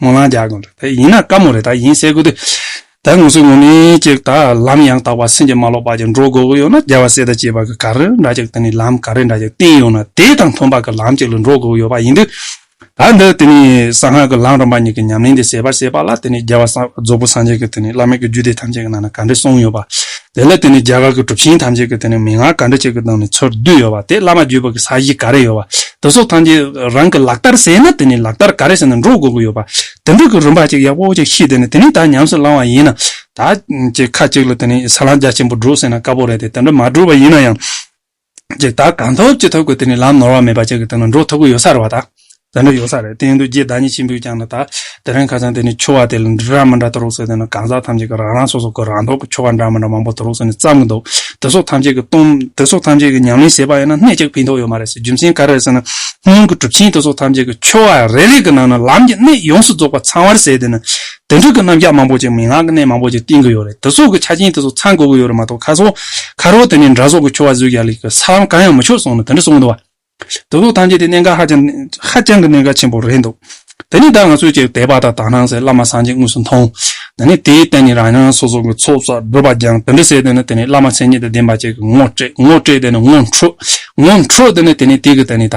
ངོ་ལང་རྒྱག་དགོས་འདུག་ཡིན་ན་དཀའ་མོ་རེད་ད་ཡིན་གསལ་དགོས་དུས་ད་ངོ་སོའི་ངོ་མི་གཅིག་ད་ལམ་ཡང་དག་པ་སེམས་ཀྱི་མ་ལོག་པ་ཅིག་འགྲོ་དགོས་ཀྱི་ཡོད་ན་རྒྱལ་བ་སྲས་དང་བཅས་པ་གི་ག་རེ་འདྲ་ཅིག་དེ་ནི་ལམ་ག་རེ་འདྲ་ཅིག་བསྟན་ཡོད་ན་དེ་དང་མཐུན་པ་གི་ལམ་ཅིག་ལ་འགྲོ་དགོས་ཀྱི་ཡོད་པ་ཡིན་དུས་ད་འདི་དེ་ནི་གསང་སྔགས་ཀྱི་ལམ་རིམ་པ་གཉིས་ཀྱི་ཉམས་ལེན་དེ་ཟད་པར་བྱས་པ་ལ་དེ་ནི་རྒྱལ་བ་རྫོགས་པོ་སངས་རྒྱས་ཀྱི་དེ་ནི་བླ་མེད་ཀྱི་རྒྱུད་སྡེ་ཐམས་ཅད་ཀྱི་ནང་ན་ག་འདྲའི་གསུངས་ཡོད་པ་དེ་ལ་བརྟེན་ནས་རྒྱ་གར་གྱི་གྲུབ་ཆེན་ཐམས་ཅད་ཀྱིས་དེ་ནས་མན་ངག་ག་འདྲ་ཅིག་གི་སྟེང་ནས་ཚུར་བསྡུས་ཡོད་པ་དེ་བླ་མ་བརྒྱུད་པ་གྱི་ས་གཞི་ག་རེ་ཡོད་པ་དེ་སོགས་ཐམས་ཅད་རང་གི་ལག་བསྟར་ཟེར་ན་དེ་ནས་ལག་བསྟར་ག་རེ་ཟེར་ན་འགྲོ་དགོས་ཀྱི་ཡོད་པ་དེ་འདྲ་གི་རིམ་པ་ཅིག་ཡག་པོ་ཅིག་ཤེས་དེ་ནས་དེ་ནས་ད་ཉམས་སུ་བླང་བ་ཡིན་ན། ད་ཁ་ཅིག་ལ་དེ་ནས་ས་ལམ་རྒྱ་ཆེན་པོ་བསྒྲུབ་ཟེར་ན་དཀའ་པོ་རེད་དེ་དེ་འདྲ་མ་བསྒྲུབས་པ་ཡིན་ན་ཡང། ཀྱི་བདག་གང་ཐོབ་ཅི་ཐོབ་ཀྱི་དེ་ནི་ལམ་ནོར་བ་མེད་པ་ཅིག་གི་སྟེང་ན་འགྲོ་ཐབས་ཀྱི་ཡོ་བསྲ་རེ་བ་དང། དེ་འདྲ་ཡོ་བསྲ་རེ་སྟེང་དུ་རྒྱས་བདག་ཉིད་ཆེན་པོས་ཀྱང་ན་ད་དེ་རིང་ཁ་སང་དེ་ནི་ཆོ་བ་དེ་ལ་འདི་འདྲ་མི་འདྲ་དུ་རུག་སོད་དེ་ན་གང་ཟག་ཐམས་ཅད་ཀྱི་རང་རང་སོ་སོ་ཀྱི་རང་ལྡོག་གི་ཆོ་ག་འདྲ་མི་འདྲ་མང་པོ་དུ་རུག་སོད་ནས་བརྩམས་ཀྱི་འདུག་དེ་སོགས་ཐམས་ཅད་ཀྱི་སྟོང་དེ་སོགས་ཐམས་ཅད་ཀྱི་ཉམས་ལེན་ཞེས་པ་ཡང་ན་གནད་ཅིག་ཕན་ཐོགས་ཡོད་མ་རེད་ཟེར་རྒྱུ་མཚན་ག་རེ་རེད་ཟེར་ན། སྔོན་གྱི་གྲུབ་ཆེན་དེ་སོགས་ཐམས་ཅད་ཀྱི་ཆོ་ག་རེ་རེ་ཀྱི་ནང་ན་ལམ་གྱི་གནད་ཡོངས་སུ་རྫོགས་པ་ཚང་བར་ཟད་དེ་ན་དེ་འབྲུག་གི་རྣམ་གཞག་མང་པོ་ཅིག་མི་ངག་གི་གནས་མང་པོ་ཅིག་བསྟན་གི་ཡོད་རེད་དེ་སོགས་ཀྱི་ཆ་རྐྱེན་དེ་ཚོ་ཚང་དགོས་ཀྱི་ཡོད་རེད་མ་གཏོགས་ཁ་སོ་ཁ་རོག་དེ་ནས་འདྲ་བཟོ་གི་ཁྱོ་བ་བཟོས་ཀྱི་ཡ་ལིག་གི་ས་ལམ་གང་ཡང་མི་ཆོད་སོང་ནི་དེ་འདྲ་གསུངས་གི་འདུག་བ། དེ་སོགས་ཐམས་ཅད་དེ་གནད་འགག་ཧ་ཅང་ཧ་ཅང་གི་གནད་འགག་ཆེན་པོ་རེད་འདུག་དེ་ནི་ད་ང་ཚོས་ཀྱི་དད་པ་དང་དག་སྣང་སེར་བླ་མ་སངས་རྒྱས་དངོས་སུ་མཐོང། དེ་ནི་དེའི་སྟེང་ནས་རང་རང་སོ་སོ་གི་ཚོགས་བསགས་བསྒྲུབ་པ་སྦྱངས་དེ་འདྲ་བྱས་དེ་ནི་དེ་ནས་བླ་མ་མཚན་ཉིད་དང་ལྡན་པ་བཅས་ཀྱི་ངོ་སྤྲད་ངོ་སྤྲད་དེ་ནི་ངོ་འཕྲོད་ངོ་འཕྲོད་དེ་ནི་དེ་ནི་དེ་གི་དེ་ནི་ད།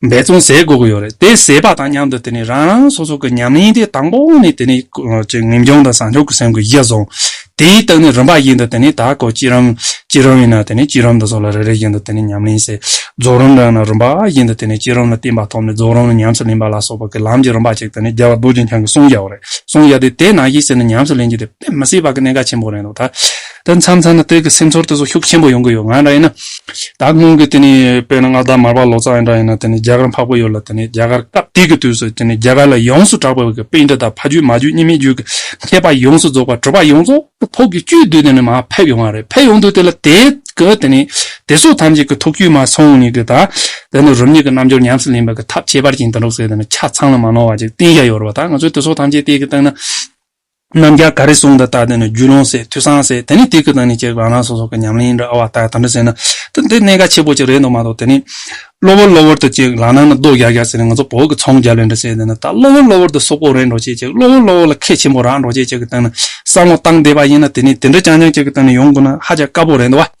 འབད་བརྩོན་ཟས་དགོས་ཀྱི་ཡོད་རེད་དེ་ཟས་པ་དང་མཉམ་དུ་དེ་ནས་རང་རང་སོ་སོ་གི་ཉམས་ལེན་དེ་དང་པོ་ནས་དེ་ནས་ངེས་འབྱུང་དང་བཟང་ཕྱོགས་ཀྱི་སེམས་ཀྱི་གཞི་བཟུང། དེའི་སྟེང་ནས་རིམ་པ་བཞིན་དུ་དེ་ནས་ད་གོ་སྐྱིད་རམ། སྐྱིད་རོམ་ཡིན་ན་དེ་ནས་སྐྱིད་རོམ་དང་སོགས་ལ་རེ་རེ་བཞིན་དུ་དེ་ནས་ཉམས་ལེན་བྱེད། རྫོགས་རིམ་རང་ན་རིམ་པ་བཞིན་དུ་དེ་ནས་སྐྱིད་རོམ་ལ་བརྟེན་པ་ཐོབ་ནས་རྫོགས་རིམ་ལ་ཉམས་སུ་ལེན་པ་ལ་སོགས་པ་ཀྱི་ལམ་གྱི་རིམ་པ་གཅིག་དེ་ནས་རྒྱལ་བ་རྡོ་རྗེ་འཆང་གིས་གསུངས་བཞག་པ་རེད་གསུངས་བཞག་དེ་དེ་ནང་བཞིན་ཟེར་ནས་ཉམས་སུ་ལེན་རྒྱུ་དེ་དཔེ་མི་སྲིད་པ་ཀྱི་གནད་འགག་ཆེན་པོ་རེད་འདུག་ད། ད་མཚམས་ཚར་ན་སྟོད་ཀྱི་སེམས་ཚོར་དེ་ཚོ་ཤུགས་ཆེན་པོ་ཡོང་གི་ཡོད་ང་རང་ཡིན་ན། ད་སྔོན་གྱི་དེ་ནི་དཔེར་ན་ང་ད་མར་པ་ལོ་ཙཱ་ཡིན་འདྲ་ཡིན་ན་དེ་ནི་རྒྱ་གར་འཕགས་པོ་ཡོད་ལ་དེ་ནི་རྒྱ་གར་སྐབས་དེ་གི་དུས་སུ་དེ་ནི་རྒྱ་གར་ལ་ཡོངས་སུ་གྲགས་པའི་གི་དཔེ་འདི་དག་ཕ་རྒྱུད་མ་རྒྱུད་གཉིས་མེད་རྒྱུད་ཀྱི་མཁས་པ་ཡོངས་སུ་རྫོགས་པ་གྲུབ་པ་ཡོངས་རྫོགས་ཀྱི་ཐུགས་ཀྱི་བཅུད་དུ་དེ་ནི་མ་ཕེབས་ཡོང་བ་རེད་ཕེབས་ཡོང་དུས་དེ་ལ་དེ་གི་དེ་ནི་དེ་གཟུགས་ཐམས་ཅད་ཀྱི་ཐུགས་བཅུད་མ་ཚང་བ་ཉིད་ཀྱི་དང། དེ་ནི་རུམ་ཉིད་ཀྱི་རྣམ་འབྱོར་ཉམས་སུ་ལེན་པའི་གི་ཐབས་ཁྱད་པར་ཅན་དེ་འགྲོགས་ཚེ་དེ་ནི་ཆ་ཚང་ལ་མ་ནོར་བ་ཅིག་གཏན་བཞག་ཡོད་རེད་བ་ད་ང་ཚོས་དེ་ཚོ་ཐམས་ཅད་དེ་གི་སྟེང་ན། རྣམ་རྒྱལ་ག་རེ་གསུངས་དང་ལྟ་དེ་ནི་རྒྱུད་ལུང་ཟེར་ཐུས་སང་ཟེར་དེ་ནི་དེ་གི་དང་ནི་བཅས་རང་རང་སོ་སོ་གི་ཉམས་ལེན་རེད་ཨ་བ་ཏའི་དམ་བཅའ་ཟེར་ན་དེ་འདི་གནད་འགག་ཆེ་པོ་ཅིག་རེད་འདུག་མ་གཏོགས་དེ་ནི། གློ་བུར་གློ་བུར་དུ་ཅིག་ལག་ནང་ན་རྡོ་རྒྱག་རྒྱག་ཟེར་ནས་ང་ཚོ་བོད་ཀྱི་ཚོང་རྒྱ་ལོས་འདྲ་བྱས་དེ་ནི་ད་གློ་བུར་གློ་བུར་དུ་སོག་པོ་རེད་འགྲོ་བྱེད་ཅིག་གློ་བུར་གློ་བུར་ལ་ཁད་ཆེན་པོ་རག་འགྲོ་བྱེད་ཅིག་གི་སྟངས་ནི་བསམ་བློ་བཏང་བསྡད་པ་ཡིན་ན་དེ་ནི་དེ་འདྲ་རྐྱང་རྐྱང་ཅིག་གི་སྟངས་ནི་ཡོང་དགོས་ན་ཧ་ཅང་དཀའ་པོ་རེད་འདུག་བ།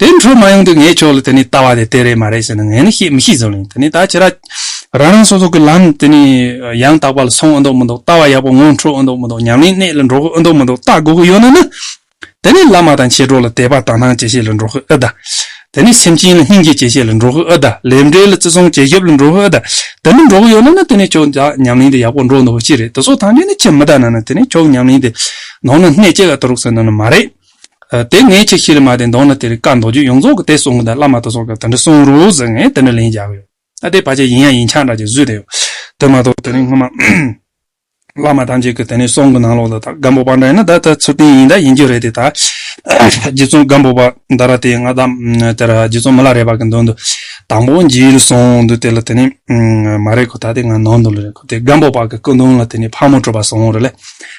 དེ་འཕྲོ་མ་ཡོང་དུས་ངའི་ཕྱོགས་ལ་དེ་ནས་ལྟ་བ་དེ་དེ་རེད་མ་རེད་ཟེར་ན་ངས་ནི་བཤད་མི་ཤེས་ཟོ་ལེ་དེ་ནས་ད་ཁྱེད་རང་རང་སོ་སོ་གི་ལམ་དེ་ནས་ཡང་དག་པ་ལ་སོང་ཨེ་འདུག་མི་འདུག་ལྟ་བ་ཡག་པོ་ངང་འཕྲོ་ཨེ་འདུག་མི་འདུག་ཉམས་ལེན་གནད་ལ་འགྲོ་གི་ཨེ་འདུག་མི་འདུག་ལྟ་དགོས་གི་ཡོད་ན་ནི། དེ་ནས་བླ་མ་དང་མཆེད་གྲོགས་ལ་དད་པ་དང་སྣང་བྱེད་བྱེད་ལ་འགྲོ་གི་ཨེ་གདའ། དེ་ནས་སེམས་ཅན་ལ་སྙིང་རྗེ་བྱེད་བྱེད་ལ་འགྲོ་གི་ཨེ་གདའ་ལས་འབྲས་ལ་བརྩི་སྲུང་བྱེད་ཞབས་ལ་འགྲོ་གི་ཨེ་གདའ་དེ་མི་འགྲོ་གི་ཡོད་ན་ནི་དེ་ནས་ཁྱོད་ཅག་ཉམས་ལེན་དེ་ཡག་པོ་འགྲོ་འདུག་པ་ཅི་རེད་དེ་སོགས་ཐམས་ཅད་ནི་ཁྱེད་མི་གདའ་ན་ནི་དེ་ནས་ཁྱོད་ཉམས་ལེན་དེ་ནང་ན་གནད་ཆེ་ག་ཏུ་རུག་ཟེར་ན་ནི་མ་རེད། དེ་ངས་ཁྱེད་ཤི་ལ་མ་དེ་འདོང་ན་དེ་རི་ཀ་འདོགས་རྒྱུ་ཡོངས་རྫོགས་ཀྱི་དེ་གསུང་གི་ད་བླ་མ་དོ་ཚོགས་ཀྱི་དེ་འདྲ་གསུང་རོགས་ཟེར་ངས་དེ་འདྲ་ལན་རྒྱག་གི་ཡོད་ཨ་དེ་བ་ཅས་ཡིན་ཡང་ཡིན་ཆགས་འདྲ་ཅིག་བཟོས་དེ་ཡོད་དེ་མ་གཏོགས་དེ་རིང་སྔོན་མ་བླ་མ་ཐམས་ཅད་ཀྱི་དེ་ནས་གསུང་གི་ནང་ལོགས་ལ་ད་སྒམ་པོ་པ་འདྲ་ཡིན་ན་ད་ད་ཚུར་བསྟན་ཡིན་ད་ཡིན་རྒྱུ་རེད་དེ་ད་རྗེ་བཙུན་སྒམ་པོ་པ་འདའ་ར་དེ་ང་ད་དེ་ར་རྗེ་བཙུན་མི་ལ་རས་པ་གི་མདུན་དུ་དང་པོ་འཇིགས་ཡུལ་སོང་འདུག་དེ་ལ་དེ་ནས་མ་རེད་ཁོ་ད་དེ་ང་ནང་དུ་ལ་རེད་ཁོ་དེ་སྒམ་པོ་པ་གི་སྐུ་མདུན་ལ་དེ་ནས་ཕག་མོ་བྲོས་པ་སོང་རེད་ལས།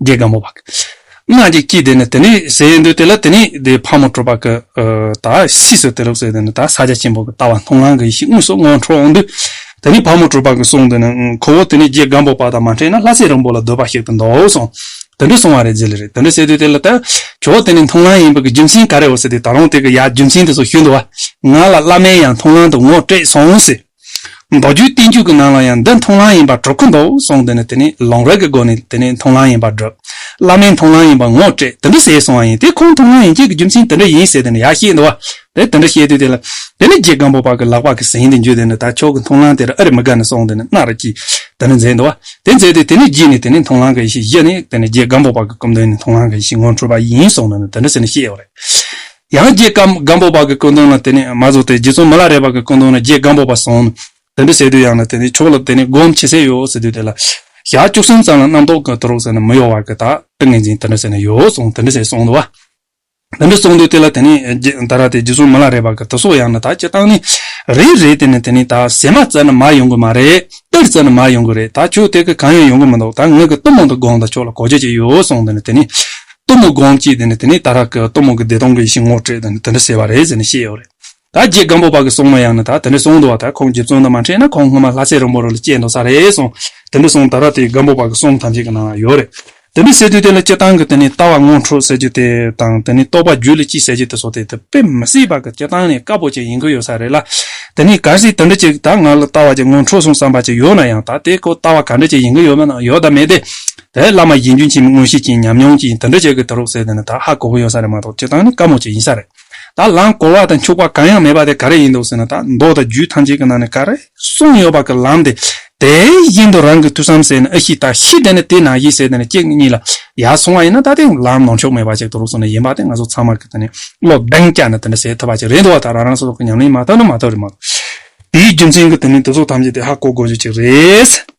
རྒྱལ་དགའ་མོ་བ། སྔགས་ཀྱི་དཀྱིལ་དེ་ནི་དེ་ནི་ཟེར་ཡས་འདུག་དེ་ལ་དེ་ནི་དེའི་ཕག་མོ་གྲུ་པ་ཀི་དག་ཤིས་སུ་དེ་ལུགས་སོ་དེ་ནི་དག་ས་ཆ་ཆེན་པོ་ཀི་ལྟ་བ་མཐོང་ངང་གི་ཡེ་ཤེས་དངོས་སུ་སྔོན་འཕྲོ་འོང་དུས། དེ་ནི་ཕག་མོ་གྲུ་པ་ཀི་གསུང་དེ་ནི་ཁོ་བོ་དེ་ནི་རྒྱལ་དགའ་མོ་བ་དང་མ་འཕྲད་ན་ལྷ་སྲས་རིང་པོ་ལ་སྡོད་པ་ཞིག་ཏུ་འདོགས་འོས་སོང། དེ་འདྲ་གསུང་བ་རེད་ཟེར་ལེ་རེད་དེ་འདྲ་ཟེར་དུས་དེ་ལ་དག་ཁྱོ་བོ་དེ་ནི་མཐོང་ལམ་ཡིན་པའི་ཀི་རྒྱུ་མཚན་ག་རེ་འོ་ཟེར་དུས་ད་རུང་དེ་ཀི་ཡ་རྒྱུ་མཚན་དེ་ཚོ་ཞུས་འདུག་བ། ང་ལ་བླ་མས་ཡང་མཐོང་ལམ་དུ་ངོ་སྤྲད་སོང་ཟེར། མདོ་རྒྱུད་བསྟན་བཅོས་ཀྱི་ནང་ལ་ཡང་འདི་མཐོང་ལམ་ཡིན་པར་གྲུབ་ཀྱི་འདུག་གསུངས་འདི་ནི་དེ་ནི་ལུང་རིགས་ཀྱི་སྒོ་ནས་དེ་ནི་མཐོང་ལམ་ཡིན་པར་གྲུབ། བླ་མས་མཐོང་ལམ་ཡིན་པར་ངོ་སྤྲད་དེ་འདི་ཟེར་གསུང་བ་ཡིན་དེ་ཁོང་མཐོང་ལམ་ཡིན་སྐད་ཀྱི་རྒྱུ་མཚན་དེ་འདྲ་ཡིན་ཟེར་དེ་ནི་ཡག་བཤད་འདུག་དེ་དེ་འདྲ་བཤད་དུས་དེ་ལ་དེ་ནི་རྗེ་སྒམ་པོ་པ་ཀྱི་ལག་པ་ཀྱི་ཟིན་དེ་འཇུས་དེ་ནི་ད་ཁྱོད་ཀྱི་མཐོང་ལམ་དེར་ཨ་རི་མི་དགའ་ནི་གསུངས་དེ་ནི་སྣ་ར་ཀྱིས་དེ་ནི་མཛད་འདུག་དེ་མཛད་དུས་དེ་ནི་རྗེས་ནས་དེ་ནི་མཐོང་ལམ་གྱི་ཡེ་ཤེས་བཞི་ནི་དེ་ནི་རྗེ་སྒམ་པོ་པ་ཀྱི་སྐུ་མདུན་ནས་མཐོང་ལམ་གྱི་ཡེ་ཤེས་ངོ་འཕྲོད་པ་ཡིན་གསུངས་དེ་ནི་དེ་འདྲ་ཟེར་ནི་བཤད་ཡོད་རེད། ཡང་རྗེ་སྒམ་པོ་པ་གི་སྐུ་མདུན་ལ་དེ་ནས་མ་རྫོགས་ཏེ་རྗེ་བཙུན་མ་ལ་རས་པ་གི་སྐུ་མདུན་ལ་རྗེ་སྒམ་པོ་པ་སོང་ནས་དེ་འདྲི་ཟེར་དུས་ཡང་ན་དེ་ནས་ཕྱོགས་ལ་དེ་ནས་སྒོམ་བྱེད་ཟེར་ཡོད་ཟེར་དུས་དེ་ལ། ཞག་བཅུ་གསུམ་ཙམ་ལ་རྣམ་རྟོག་གི་དོར་ཟེར་ནས་མི་གཡོ་བར་གྱི་དག་ཏིང་ངེ་འཛིན་དེ་འདྲི་ཟེར་ནས་ཡོད་སོང་དེ་འདྲི་ཟེར་སོང་དུ། དེ་འདྲི་སོང་དུས་དེ་ལ་དེ་ནས་ད་ར་དེ་རྗེ་བཙུན་མ་ལ་རས་པ་གི་དུ་སོགས་ཡང་ན་དག་སྤྱི་བཏང་ནས། རེད་རེད་དེ་ནས་དེ་ནས་དག་ཟེར་མ་བཙལ་ན་མར་ཡོང་གི་མ་རེད་གཏེར་བཙལ་ན་མར་ཡོང་གི་རེད་དག་ཁྱོད་གཏེར་གི་གང་ཡང་ཡོང་གི་མི་འདུག་དག་ངེད་གི་གཏུམ་མོ་དང་དགོངས་དང་ཕྱོགས་ལ་གོ་ཆོད་ཅིག་ཡོད་སོང་དེ་ནས་དེ་ནས། གཏུམ་མོ་སྒོམ་ཅིག་དེ་ནས་ད་རག་གི་གཏུམ་མོ་གི་བདེ་སྟོང་གི་ཡེ་ཤེས་ངོ་སྤྲོད་དེ་འདི་འདྲ་ཟེར་བ་རེད་ཟེར་ནས་བཤད་ཡོད་རེད། ད་རྗེ་སྒམ་པོ་པ་གི་གསུང་མ་ཡང་ན་ད་དེ་འདྲ་གསུང་འདུག་བ་ད་ཁོང་རྗེ་བཙུན་ལ་མ་འཕྲད་ན་ཁོང་སྔོན་མ་ལྷ་སའི་རོང་པོ་རུ་ལ་སྐྱེས་འདུག་ས་རེད་གསུང་དེ་འདྲ་གསུང་ད་རག་དེ་སྒམ་པོ་པ་གི་གསུང་ཐམས་ཅད་གི་ནང་ལ་ཡོད་རེད། དེ་འདྲ་ཟེར་དུས་དེ་ལ་སྤྱིར་བཏང་གི་དེ་ནས་ལྟ་བ་དངོས་འཁྲུག་ཟེར་རྒྱུ་དེ་དང་དེ་ནས་རྟོགས་པ་རྒྱུད་ལ་ཅི་ཟེར་རྒྱུ་དེ་སོགས་དེ་དཔེ་མི་སྲིད་པ་གི་སྤྱིར་བཏང་ནས་དཀར་པོ་ཅིག་ཡིན་གི་ཡོད་ས་རེད་ལ། དེ་ནས་གལ་སྲིད་དེ་འདྲ་ཅིག་ད་ང་ལ་ལྟ་བ་ཅིག་དངོས་འཁྲུག་སོང་བསམ་པ་ཅིག་ཡོད་ན་ཡང་ད་དེ་ཁོ་ལྟ་བ་ག་འདྲ་ཅིག་ཡིན་གི་ཡོད་མེད་ན་ཡོད་དམ་མེད་དེ་ད་ཡར་བླ་མ་དགེ་འདུན་ཆེན་མོའི་དངོས་གཞི་ཅན་ཉམས་མྱོང་གྱིས་འདི་འདྲ་བྱེད་དགོས་ད་རོགས་ཟེར་དེ་ནི་ད་ཧ་གོ་གི་ཡོད་ས་རེད་མ་གཏོགས་བྱེད་སྟངས་ནི་དཀའ་མོ་ཅིག་ཡིན་ས་རེད། ད་ལམ་གོ་བ་དང་འཁྱུག་པ་གང་ཡང་མེད་པ་དེ་ག་རེ་ཡིན་འདུག་ཟེར་ན་ད་མདོ་དང་རྒྱུད་ཐམས་ཅད་ཀྱི་ནང་ནས་ག་རེ་གསུངས་ཡོད་པ་གི་ལམ་དེ་དེའི་བཞིན་དུ་རང་གི་ཐུགས་བསམ་ཟེར་ནས་ཨ་ཤི་ད་ཤི་དེ་ནི་དེ་ན་ཤི་ཟེར་དེ་ནི་ཁྱེད་གཉིས་ལ་ཡར་སོང་བ་ཡིན་ན་ད་དེ་ལམ་ནོར་འཁྱོག་མེད་པ་ཅིག་ད་རོགས་སོང་ནི་ཡིན་པ་དེ་ང་ཚོ་ཚང་མ་གི་ད་ནི་བློ་གདེང་བསྐྱལ་ནས་དེ་འདྲ་བྱེད་ཐུབ་པ་ཅིག་རེད་འདུག་བ་ད་རང་རང་སོ་སོ་གི་ཉམས་ལེན་མ་ཐོབ་ན་མ་ཐོབ་རེད་མ་གཏོགས་དེའི་རྒྱུ་མཚན་གྱིས་དེ་ནི་འདི་ཚོ་ཐམས་ཅད་དེ་ཧ་གོ་དགོས་རྒྱུ་ཅིག་རེད།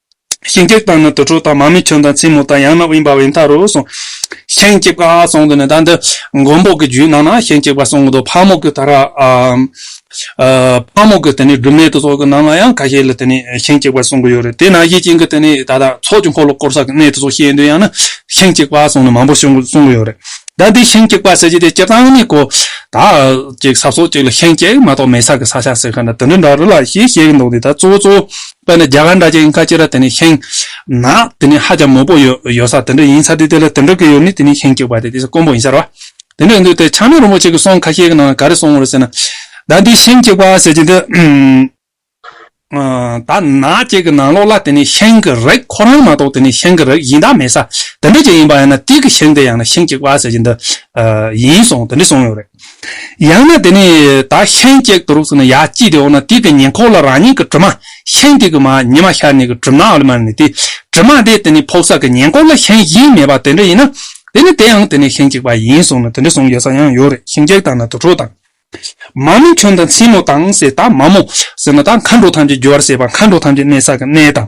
ཤིང་ཀེག་དང་ནི་དུར་ཁྲོད་དང་མར་མེ་ཁྱུང་དང་ཚིལ་མོ་དང་ཡང་ན་དབེན་པ་བས་མཐའ་རུ་སོང། ཤིང་ཀེག་པའི་གསང་དུ་ནི་ད་འདི་མགོན་པོ་གི་རྒྱུད་ནང་ན་ཤིང་ཀེག་པའི་གསང་དུ་ཕག་མོ་ཀི་ད་ར། ཕག་མོ་ཀི་དེ་ནི་སྦྲུམ་མའི་དུར་ཚོགས་ཀི་ནང་ན་ཡང་ཁ་ཤས་ལ་དེ་ནི་ཤིང་ཀེག་པའི་གསང་གི་ཡོད་རེད་དེ་ན་གཞི་ཅན་གི་དེ་ནི་ད་ལྟ་ཚོགས་ཀྱི་འཁོར་ལོ་བསྐོར་ས་གི་གནས་དུར་ཚོགས་ཤེས་འདོད་ཡང་ན་ཤིང་ཀེག་པའི་གསང་ནི་མང་པོ་གསང་གི་གསང་གི་ཡོད་རེད་ད་འདི་ཤིང་ཀེག་པའི་ཟེར་གྱི་དེ་སྤྱིར་བཏང་ནི་གོ། ད་ཅིག་ས་སོགས་ཅིག་ལ་ཤིང་ཀེག་མ་གཏོགས་མེད་ས་གི་ས་ཆ་ཟེར་ཁ་ན་དེ་འདྲ་འདྲ་རེད་ལ་ཞེས་བཤད་གི་འདུག་འདི་ད་གཙོ་བོ་གཙོ་བོ། དཔེར་ན་རྒྱ་གར་འདྲ་ཅན་ཁ་ཅིག་ལ་དེ་ནི་ཤིང། ནག། དེ་ནི་ཧ་ཅང་མོད་པོ་ཡོད་ས་དེ་འདྲ་ཡིན་ས་དེ་དེ་ལ་དེ་འདྲ་གི་ཡོད་ནི་དེ་ནི་ཤིང་གཅིག་པ་དེ་དེ་ས་དཀོན་པོ་ཡིན་ས་རེད། དེ་འདྲ་ཡིན་དུས་དེ་ཆགས་མེད་རིན་པོ་ཆེ་གི་གསུང་ཁ་ཤས་ཀྱི་ནང་ལ་ག་རེ་གསུང་ངོ་ཟེར་ན། ད་འདི་ཤིང་གཅིག་པ་ཟེར་གྱི་འདུག། ད་ནག་ཅིག་གི་ནང་ལོགས་ལ་དེ་ནི་ཤིང་གི་རིགས་ཁོ་རང་མ་གཏོགས་དེ་ནི་ཤིང་གི་རིགས་ཡིན་དག་མེད་ས་དེ་འདྲ་ཅིག་ཡིན་པ་ཡང་ན་དུས་ཀྱི་ཤིང་དེ་ཡང་ན་ཤིང་གཅིག་པ་ཟེར་གྱི་འདུག་ཡིན་སོང་དེ་འདྲ་གསུང་ཡོད་རེད། ཡང་ན་དེ་ནི་ད་ཤན་གཅིག་དུ་རུག་སོང་ན་ཡ་ཅི་དེ་འོ་ན་དེ་དེ་ཉེ་འཁོར་ལ་རང་ཉིད་ཀྱི་དྲི་མ་ཤན་གཅིག་གི་མ་ཉི་མ་ཤར་ནས་ཀྱི་གྲིབ་ནའོ་ལེ་མ་ནི་དེ་དྲི་མ་དེ་དེ་ནི་ཕོག་ས་ཀྱི་ཉེ་འཁོར་ལ་ཤན་གཞན་མེད་པ་དེ་འདྲ་ཡིན་ན་དེ་ནི་དེའང་དེ་ནི་ཤན་གཅིག་པ་ཡིན་སོང་ན་དེ་འདྲ་སོང་ཡོད་ས་ཡང་ཡོད་རེད་ཤིང་གཅིག་དང་ན་དུར་ཁྲོད་དང། མ་མོ་ཁྱོད་དང་མཚན་མོ་དང་ཟེར་ད་མ་མོ་ཟེར་ན་ད་མཁའ་འགྲོ་ཐམས་ཅད་རྒྱུ་བར་བྱེད་པ་མཁའ་འགྲོ་ཐམས་ཅད་གནས་ས་ཀྱི་གནས་དང།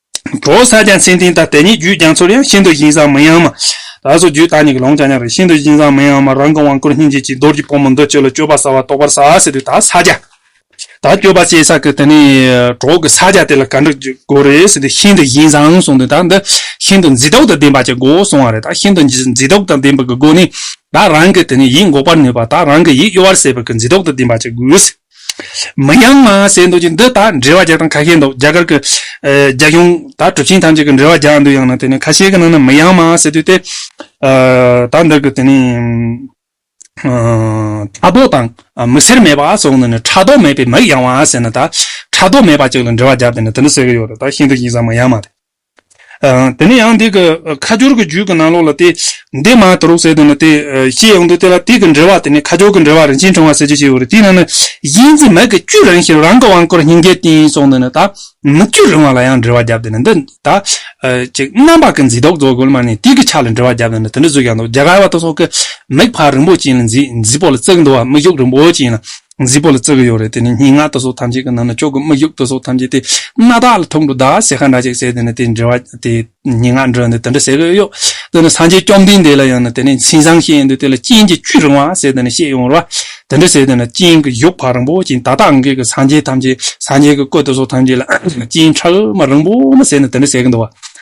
གྲོ་བོ་སཱ་ཅང་ཚེ་འཛིན་དང་དེ་ཉིད་རྒྱུད་རྒྱ་མཚོར་ཡང་ཤིན་ཏུ་བཞིན་བཟང་མི་ཡང་མ། ད་གཟོད་རྒྱུད་དག་ཉིད་ཀྱི་ལོངས་སྤྱད་སྙམ་པས་ཤིན་ཏུ་བཞིན་བཟང་མི་ཡང་མ་རང་གི་དབང་བསྐུར་སྙིང་རྗེ་གཅིག་རྡོར་གྱི་ཕོ་མོ་འདི་ཁྱོད་ལ་སྤྱོད་པ་བྱ་བ་རྟོགས་པར་བྱ་ཟེར་དུས་དག་ས་ཅང། དག་སྤྱོད་པ་བྱས་ས་ཀྱི་དེ་ནས་གྲོགས་ཀྱི་ས་ཅང་དེ་ལ་ག་འདྲ་དགོས་རེད་ཟེར་དུས་ཤིན་ཏུ་བཞིན་བཟང་གསུངས་དུས་དག་འདི་ཤིན་ཏུ་མཛེས་རྟོག་དང་ལྡན་པ་ཅིག་དགོས་གསུངས་བ་རེད་དག་ཤིན་ཏུ་མཛེས་རྟོག་དང་ལྡན་པའི་གི་སྒོ་ནས་དག་རང་གི་དེ་ནས་ཡིད་འགོག་པར་ནུས་པ་དག་རང་གི་ཡིད་གཡོ་བར་བྱེད་པའི་གི་མཛེས་རྟོག་དང་ལྡན་པ་ཅིག་དགོས་ཟེར། མི་ཡང་མ་བསད་འདུག་ཅིང་འདི་དག་འབྲེལ་བ་རྒྱག་སྟངས་ཁ་ཤས་འདུག་རྒྱ་གར་གྱི་རྒྱལ་ཡོངས་དག་གྲུབ་ཆེན་ཐམས་ཅད་ཀྱི་འབྲེལ་བ་རྒྱག་འདུག་ཡང་ན་དེ་ནི་ཁ་ཤས་ཀྱི་ནང་ན་མི་ཡང་མ་བསད་དུས་ཏེ། དག་འདི་གི་དེ་ནི། ཁྲག་དོག་དང་མི་སེར་མེད་པ་སོགས་ནི་ནི་ཁྲག་དོག་མེད་པའི་མིག་ཡང་བ་བསད་ན་དག་ཁྲག་དོག་མེད་པ་ཅིག་ལ་འབྲེལ་བ་རྒྱབ་སྟེ་ནི་དེ་འདྲ་བསད་ཀྱི་ཡོད་རེད་དག་ཤིན་ཏུ་ཡིག་ཟ་མི་ཡང་མ་རེད། དེ་ནས་ཡང་དེ་གི་ཁ་སྦྱོར་གྱི་རྒྱུད་ཀྱི་ནང་ལོགས་ལ་དེ་འདས་མ་ཨ་ཏི་རོག་གསལ་དུ་ནི་དེ་ཤེས་ཡོང་དུས་དེ་ལ་དུས་ཀྱི་འབྲེལ་བ་དེ་ནི་ཁ་སྦྱོར་གྱི་འབྲེལ་བ་རིན་ཆེན་ཕྲེང་བ་གསལ་བྱེད་ཅེས་བྱ་བ་རེད་དེའི་ནང་ནི་གཞི་འཛིན་མེད་ཀྱི་བཅུད་རང་ཞིང་རང་གི་དབང་བསྐུར་སྙིང་གའི་རྟེན་སོགས་འདི་ནི་ད་མི་བཅུ་རིང་བ་ལ་ཡང་འབྲེལ་བ་བརྒྱབ་སྟེ་ནི་འདི་ད་ཅིག་རྣམ་པ་ཀུན་གཟིགས་རྟོག་ཚོགས་གོལ་མ་ནས་དུས་ཀྱི་ཆ་ལ་འབྲེལ་བ་བརྒྱབ་སྟེ་ནི་དེ་འདྲ་བཟོས་ཀྱང་འདུག་རྒྱ་གར་བ་དང་སོགས་ཀྱིས་མིག་འཕར་རིན་པོ་ཅན་ལ་འཛིན་འཛིན་པོ་ལ་བརྩེགས་འདུག་བ་མིག་ཞུགས་རིན་པོ་ཅན་ལ་རྫིག་པོ་ལ་བརྩི་གི་ཡོད་རེད་དེ་ནི་སྙིང་ངག་ལྟ་སོགས་ཐམས་ཅད་ཀྱི་ནང་ན་ཅོག་གི་མི་གཞུག་ལྟ་སོགས་ཐམས་ཅད་དེ་སྣ་དག་ལ་ཐུག་འགྲོ་ད་ཟེར་ཁ་འདྲ་ཅིག་བྱས་དེ་ནི་དེ་འདྲི་བ་དེ་སྙིང་ངག་འདྲི་འདི་དེ་འདྲ་ཟེར་གི་ཡོད་དེ་ནི་སངས་རྒྱས་བཅོམ་ལྡན་འདས་ལ་ཡང་ནི་དེ་ནི་མཚན་བཟང་ཤེས་ཡོན་དུ་དེ་ལ་རྐྱེན་གྱི་བཅུད་རིང་བ་ཟེར་དེ་ནི་ཤེས་ཡོང་རོགས་དེ་འདྲ་བྱས་དེ་ནི་རྐྱེན་གྱི་གཞུག་བག་རིང་པོ་ཅན་ད་ལྟ་ཨང་ཀི་གི་སངས་རྒྱས་ཐམས་ཅད་སངས་རྒྱས་ཀྱི་སྐུ་ལྟ་སོགས་ཐམས་ཅད་ལ་རྐྱེན་ཕྲ་མ་རིང་པོ་ནི་ཟེར་ནི་དེ་འདྲ་ཟེར་གི་འདུག་བ།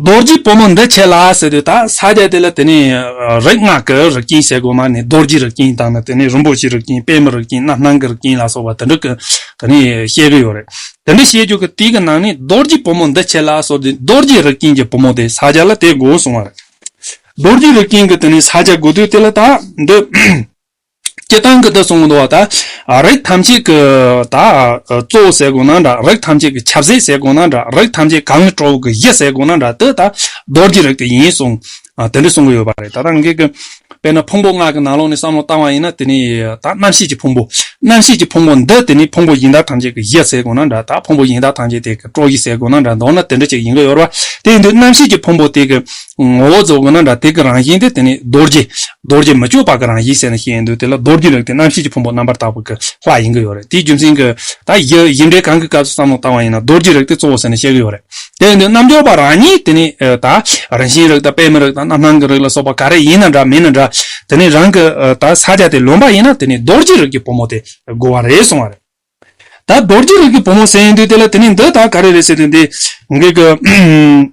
རྡོ་རྗེ་སྤོས་མོ་འདི་བྱས་ལ་ཟེར་དུས་ད་ས་རྒྱ་དེ་ལ་དེ་ནས་རིག་སྔགས་ཀྱི་རིགས་ཀྱིན་བྱེད་དགོས་མ་ནི་རྡོ་རྗེ་རིགས་ཀྱིན་དང་ནི་དེ་ནས་རིན་པོ་ཆེའི་རིགས་ཀྱིན་པད་མའི་རིགས་ཀྱིན་རྣམ་སྣང་གི་རིགས་ཀྱིན་ལ་སོགས་པ་དེ་འདྲ་ཀྱི་དེ་ནས་བཤད་ཀྱི་ཡོད་རེད་དེ་འདྲ་བཤད་རྒྱུ་ཀྱི་དེ་ཀྱི་ནང་ནས་རྡོ་རྗེ་སྤོས་མོ་འདི་བྱས་ལ་སོགས་དེ་རྡོ་རྗེ་རིགས་ཀྱིན་གྱི་སྤོས་མོ་དེ་ས་རྒྱ་ལ་དེ་དགོས་གསུང་བ་རེད་རྡོ་རྗེ་རིགས་ཀྱིན་གྱི་དེ་ནས་ས་རྒྱ་དགོས་དུས་དེ་ལ་ད་འདི། སྐྱེ་སྟངས་ཀྱི་དུག་གསུམ་འདུ་བ་དག། རིགས་ཐམས་ཅད་ཀྱི་དག། གཙོ་བོ་ཟས་དགུ་ན་འདྲ། རིགས་ཐམས་ཅད་ཀྱི་ཆབ་ཟས་ཟས་དགུ་ན་འདྲ། རིགས་ཐམས་ཅད་གང་གི་ཁྲོ་བོ་ཀྱི་གཞི་ཟས་དགུ་ན་འདྲ་དེ་དག་རྡོར་གྱི་རིགས་དེ་ཡིན་གསུངས། དེ་འདྲ་གསུང་གི་ཡོད་པ་རེད། ད་ལྟ་ངེད་ཀྱི་དཔེར་ན་ཕུང་པོ་སྔགས་ཀྱི་ནང་ལོགས་ནས་བསམ་བློ་བཏང་བ་ཡིན་ན་དེ་ནི་ད་རྣམ་ཤེས་ཀྱི་ཕུང་པོ། རྣམ་ཤེས་ཀྱི་ཕུང་པོ་འདི་དེ་ནི་ཕུང་པོ་ཡིན་དག་ཐམས་ཅད་ཀྱི་གཞི་ཟས་དགུ་ན་འདྲ་དག་ཕུང་པོ་ཡིན་དག་ཐམས་ཅད་དེ་ཀྱི་ཁྲོ་གཞི་ཟས་དགུ་ན་འདྲ་མདོར་ན་དེ་འདྲ་ཅིག་ཡིན་གྱི་ཡོད་རེད་པ། དེ་ཡིན་དུས་རྣམ་ཤེས་ཀྱི་ཕུང་པོ་དེ་ཀྱི་ངོ་བོ་གཙོ་བོ་ན་འདྲ་དེ་གི་རང་བཞིན་དེ་དེ་ནི་རྡོ་རྗེ། རྡོ་རྗེ་མི་བསྐྱོད་པ་གི་རང་བཞིན་ཟེར་ན་བཤད་ཡིན་འདུག་དེ་ལ་རྡོ་རྗེ་ལུགས་དེ་རྣམ་ཤེས་ཀྱི་ཕུང་པོ་རྣམ་པར་དག་པ་གི་ལྷ་ཡིན་གྱི་ཡོད་རེད་དེའི་རྒྱུ་མཚན་གྱི། ད་ཡི་ཡི་འབྲེལ་གང་གི་སྐབས་སུ་བསམ་བློ་བཏང་བ་ཡིན་ན་རྡོ་རྗེ་རིགས་དེ་གཙོ་བོ་ཟེར་ནས་བཤད་གྱི་ཡོད་རེད། དེ་ཡིན་དུས་རྣམ་འབྱོར་པ་རང་ཉིད་དེ་ནི་ད། རང་བཞིན་རིགས་དང་པདྨའི་རིགས་དང་རྣམ་སྣང་གི་རིགས་ལ་སོགས་པ་ག་རེ་ཡིན་ན་འདྲ་མིན་ན་འདྲ། དེ་ནི་རང་གི་ད་ས་ཆ་དེ་ལོན་པ་ཡིན་ན་དེ་ནི་རྡོ་རྗེ་རིགས་ཀྱི་བུ་མོ་དེ་དགོས་བ་རེད་གསུངས་བ་རེད། ད་རྡོ་རྗེ་རིགས་ཀྱི་བུ་མོ་ཟེར་ཡིན་དུས་དེ་ལ་དེ་ནི་འདི་ད་ག་རེ་རེད་ཟེར་དུས་འདི་གི།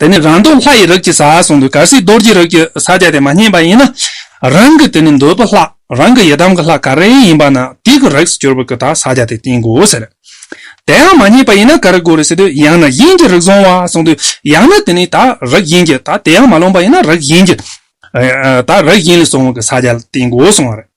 དེ་ནི་རང་འདོད་ལྷ་ཡི་རིགས་ཀྱི་ས་གསུངས་པའི་གར་སའི་རྡོ་རྗེའི་རིགས་ཀྱི་ས་བརྒྱད་དེ་མ་རྙེད་པ་ཡིན་ན། རང་གི་དེ་ནི་འདོད་པའི་ལྷ་རང་གི་ཡི་དམ་གྱི་ལྷ་ག་རེ་ཡིན་པ་ན་དེ་གི་རིགས་སུ་གྱུར་པའི་གི་དག་ས་བརྒྱད་དེ་བསྟེན་དགོས་ཟེར། དེའང་མ་རྙེད་པ་ཡིན་ན་ག་རེ་དགོས་རེད་ཟེར་དུས་ཡང་ན་དབྱིངས་ཀྱི་རིགས་བཟུང་བ་གསུངས་དུས་ཡང་ན་དེ་ནི་དག་རིགས་དབྱིངས་ཀྱི་དག་དེའང་མ་ལོངས་པ་ཡིན་ན་རིགས་དབྱིངས་ཀྱི་དག་རིགས་དབྱིངས་ལས་བཟུང་བའི་གི་ས་བརྒྱད་ལ་བསྟེན་དགོས་གསུངས་བ་རེད།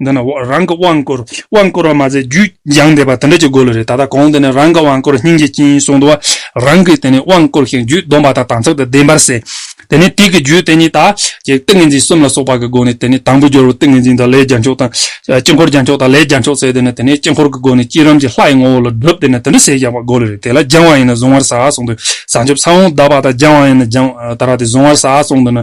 འདི་ན་རང་གི་དབང་བསྐུར་དབང་བསྐུར་བ་མ་ཟད་རྒྱུད་སྦྱངས་འདས་པ་དེ་འདྲ་ཅིག་དགོས་ལོས་རེད་ད་ལྟ་གོང་དེ་ནས་རང་གི་དབང་བསྐུར་སྙིང་རྗེ་སྐྱིན་གསུང་དུ་རང་གིས་དེ་ནས་དབང་བསྐུར་ཞིང་རྒྱུད་སྡོམ་པ་དང་དང་ཚིག་དང་ལྡན་པར་ཟད། དེ་ནས་ཏིག་གི་རྒྱུད་དེ་ཉིད་དག་ཅིག་ཏིང་ངེ་འཛིན་གསུམ་ལ་སོགས་པ་གི་སྒོ་ནས་དེ་ནས་དང་པོ་སྦྱོར་བའི་ཏིང་ངེ་འཛིན་དང་ལས་རྒྱ་མཆོག་དང། དཀྱིལ་འཁོར་རྒྱ་མཆོག་དང་ལས་རྒྱ་མཆོག་བསྲེས་དེ་ནས་དེ་ནས་དཀྱིལ་འཁོར་གྱི་སྒོ་ནས་བསྐྱེད་རིམ་གྱི་ལྷ་ཡི་ངོ་བོ་ལ་བསྒྲུབ་དེ་ནས་དེ་འདྲ་ཟད་སྦྱངས་པ་དགོས་ལོས་རེད་དེ་ལ་སྦྱང་བ་ཡིན་ན་གཟུང་བར་བྱ་གསུང་དུ་བྱང་ཆུབ་ས་བོན་གདགས་པ་དང་སྦྱང་བ་ཡིན་ན་སྦྱང་བར་བྱ་སྟེ་གཟུང་བར་བྱ་གསུང་དུ་ནི།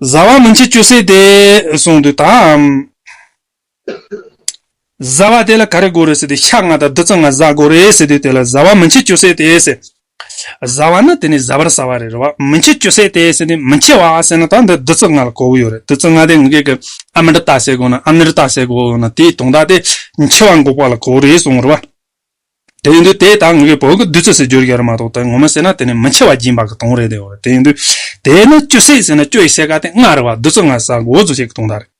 བཟའ་བ་མི་འཆི་ཅོ་སྲེད་དེ། གསུངས་དུས་དང། བཟའ་བ་དེ་ལ་ག་རེ་དགོས་རེད་ཟེར་དུས་ཤ་ལྔ་དང་བདུད་རྩི་ལྔ་བཟའ་དགོས་རེད་ཟེར་དུས་དེ་ལ་བཟའ་བ་མི་འཆི་ཅོ་སྲེད་དེ་ཟེར། བཟའ་བ་ནི་དེ་ནི་བཟའ་བར་ཟ་བ་རེད་རེད་བ། མི་འཆི་ཅོ་སྲེད་དེ་ཟེར་ནི་མི་འཆི་བ་ཟེར་ན་ད་འདི་བདུད་རྩི་ལྔ་ལ་གོ་བོ་ཡོད་རེད་བདུད་རྩི་ལྔ་དེ་ངུ་སྐད་ཀྱི་ཨ་མི་འདི་ལྟ་ཟེར་དགོས་ན་ཨ་མི་རི་ལྟ་ཟེར་དགོས་ན་དེའི་དོང་དག་དེ་འཆི་བ་འགོག་པ་ལ་གོ་བོ་རེད་གསུངས་རེད་བ། དེ་ཡིན་དུས་དེས་ད་ངོས་ཀྱི་བོད་ཀྱི་བདུད་རྩི་ཟེར་རྒྱུར་ཡོད་རེད་མ་གཏོགས་དེ་ངོ་མ་ཟེར་ན་དེ་ནི་མི་འཆི་བ་སྦྱིན་པ་གི་དོང་རེད་དེ་ཡིན་དུས་དེས་ན་བཅུ་བསྲེག་ཟེར་ན་བཅུ་ཡི་བསྲེག་ཀ་དེ་ལྔ་རེད་བ་བདུད་རྩི་ལྔ་བཟའ་འོ་ཟོ་བྱེད་ཀྱི་དོང་རེད་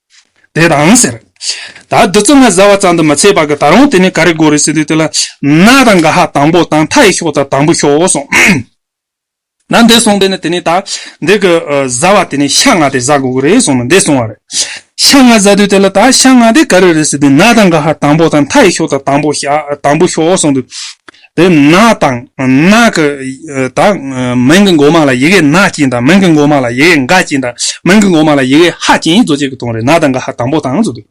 དེ་དང་ཟེར། ད་བདུད་རྩི་ལྔ་བཟའ་བ་ཙམ་དུ་མི་ཚད་པ་གི་ད་རུང་དེ་ནི་ག་རེ་དགོས་རེད་ཟེར་དུས་དེ་ལ་ན་དང་ག་ཧ་དང་པོ་དང་མཐའ་ཡི་ཤོག་དང་དང་པོ་ཤོག་སོང། ན་འདི་གསུངས་པས་ན་དེ་ནས་ད། འདི་གི་བཟའ་བ་དེ་ནས་ཤ་ལྔ་སྟེ་བཟའ་དགོས་ཀྱི་རེད་གསུངས་ནས་འདི་གསུངས་བ་རེད། ཤ་ལྔ་བཟའ་དུས་དེ་ལ་ད་ཤ་ལྔ་དེ་ག་རེ་རེད་ཟེར་དུས་ན་དང་ག་ཧ་དང་པོ་དང་མཐའ་ཡི་ཤོག་དང་དང་པོ་ཤ་དང་པོ་ཤོག་གསུངས་དུས། དེ་ན་དང་ན་གི་ད་མིང་གི་འགོ་མ་ལ་ཡི་གེ་ན་བཅིངས་དང་མིང་གི་འགོ་མ་ལ་ཡི་གེ་འགའ་བཅིངས་དང་མིང་གི་འགོ་མ་ལ་ཡི་གེ་ཧ་བཅིངས་གཙོ་ཆེ་གི་དོན་རེད་ན་དང་ག་ཧ་དང་པོ་དང་གསུངས་དུས།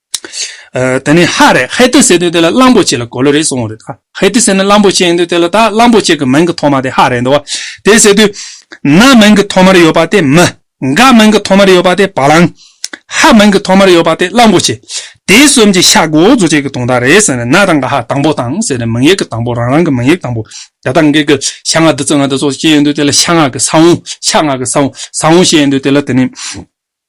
ད་ནི་ཧ་རེད་ཧེ་ཏི་ཟེར་དུས་དེ་ལ་གླང་པོ་ཆེ་ལ་གོ་ལོ་རེ་སོང་བ་རེད། ཧེ་ཏི་ཟེར་ནི་གླང་པོ་ཆེ་ཡིན་དུས་དེ་ལ་ད་གླང་པོ་ཆེ་གི་མིང་གི་ཐོག་མ་དེ་ཧ་རེད་འདུག་བ། དེ་ཟེར་དུས། ན་མིང་གི་ཐོག་མར་ཡོད་པ་དེ་མི། འག་མིང་གི་ཐོག་མར་ཡོད་པ་དེ་བ་ལང། ཧ་མིང་གི་ཐོག་མར་ཡོད་པ་དེ་གླང་པོ་ཆེ། དེ་གསུམ་གྱི་ཤ་འགོ་འཛུགས་བྱེད་ཀྱི་དོང་དག་རེད་ཟེར་ནས་ན་དང་འག་ཧ་དང་བོ་དང་ཟེར་ནས་མིང་ཡིག་གི་དང་བོ་རང་རང་གི་མིང་ཡིག་དང་བོ། ད་ལྟ་འགའི་གི་ཤ་ང་དི་ཙི་ང་དི་སོགས་ཅི་ཡིན་དུས་དེ་ལ་ཤ་ང་གི་ས་བོང་ཤ་ང་གི་ས་བོང་ས་བོང་ཞེས་ཡིན་དུས་དེ་ལ་དེ་ནི།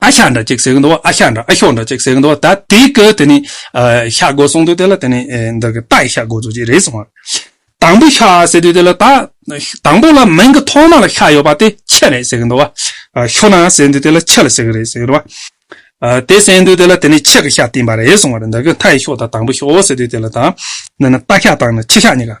ཨ་ཤ་འདྲ་གཅིག་ཟེར་གི་འདུག་ཨ་ཤ་འདྲ་ཨ་ཤོག་འདྲ་གཅིག་ཟེར་གི་འདུག་ད་དེ་གི་དེ་ནི་ཤ་དགོ་གསུངས་དུས་དེ་ལ་དེ་ནི་འདི་གི་རྟ་ཡི་ཤ་དགོ་ཚུལ་གཅིག་རེད་གསུངས་བ། དང་པོ་ཤ་ཟེར་དུས་དེ་ལ་ད་དང་པོ་ལ་མིང་གི་ཐོག་མ་ལ་ཤ་ཡོད་པ་དེ་ཁྱི་རེད་ཟེར་གི་འདུག་བ། ཤོ་ན་ཟེར་དུས་དེ་ལ་ཁྱི་ལ་ཟེར་གི་རེད་ཟེར་གི་འདུག་བ། དེ་ཟེར་དུས་དེ་ལ་དེ་ནི་ཁྱི་གི་ཤ་བཏིང་བ་རེད་གསུངས་བ། འདི་གི་མཐའ་ཡི་ཤོག་དང་དང་པོ་ཤོག་ཟེར་དུས་དེ་ལ་ད་འདི་ནི་རྟ་ཤ་དང་ནི་ཁྱི་ཤ་གཉིས་ཀ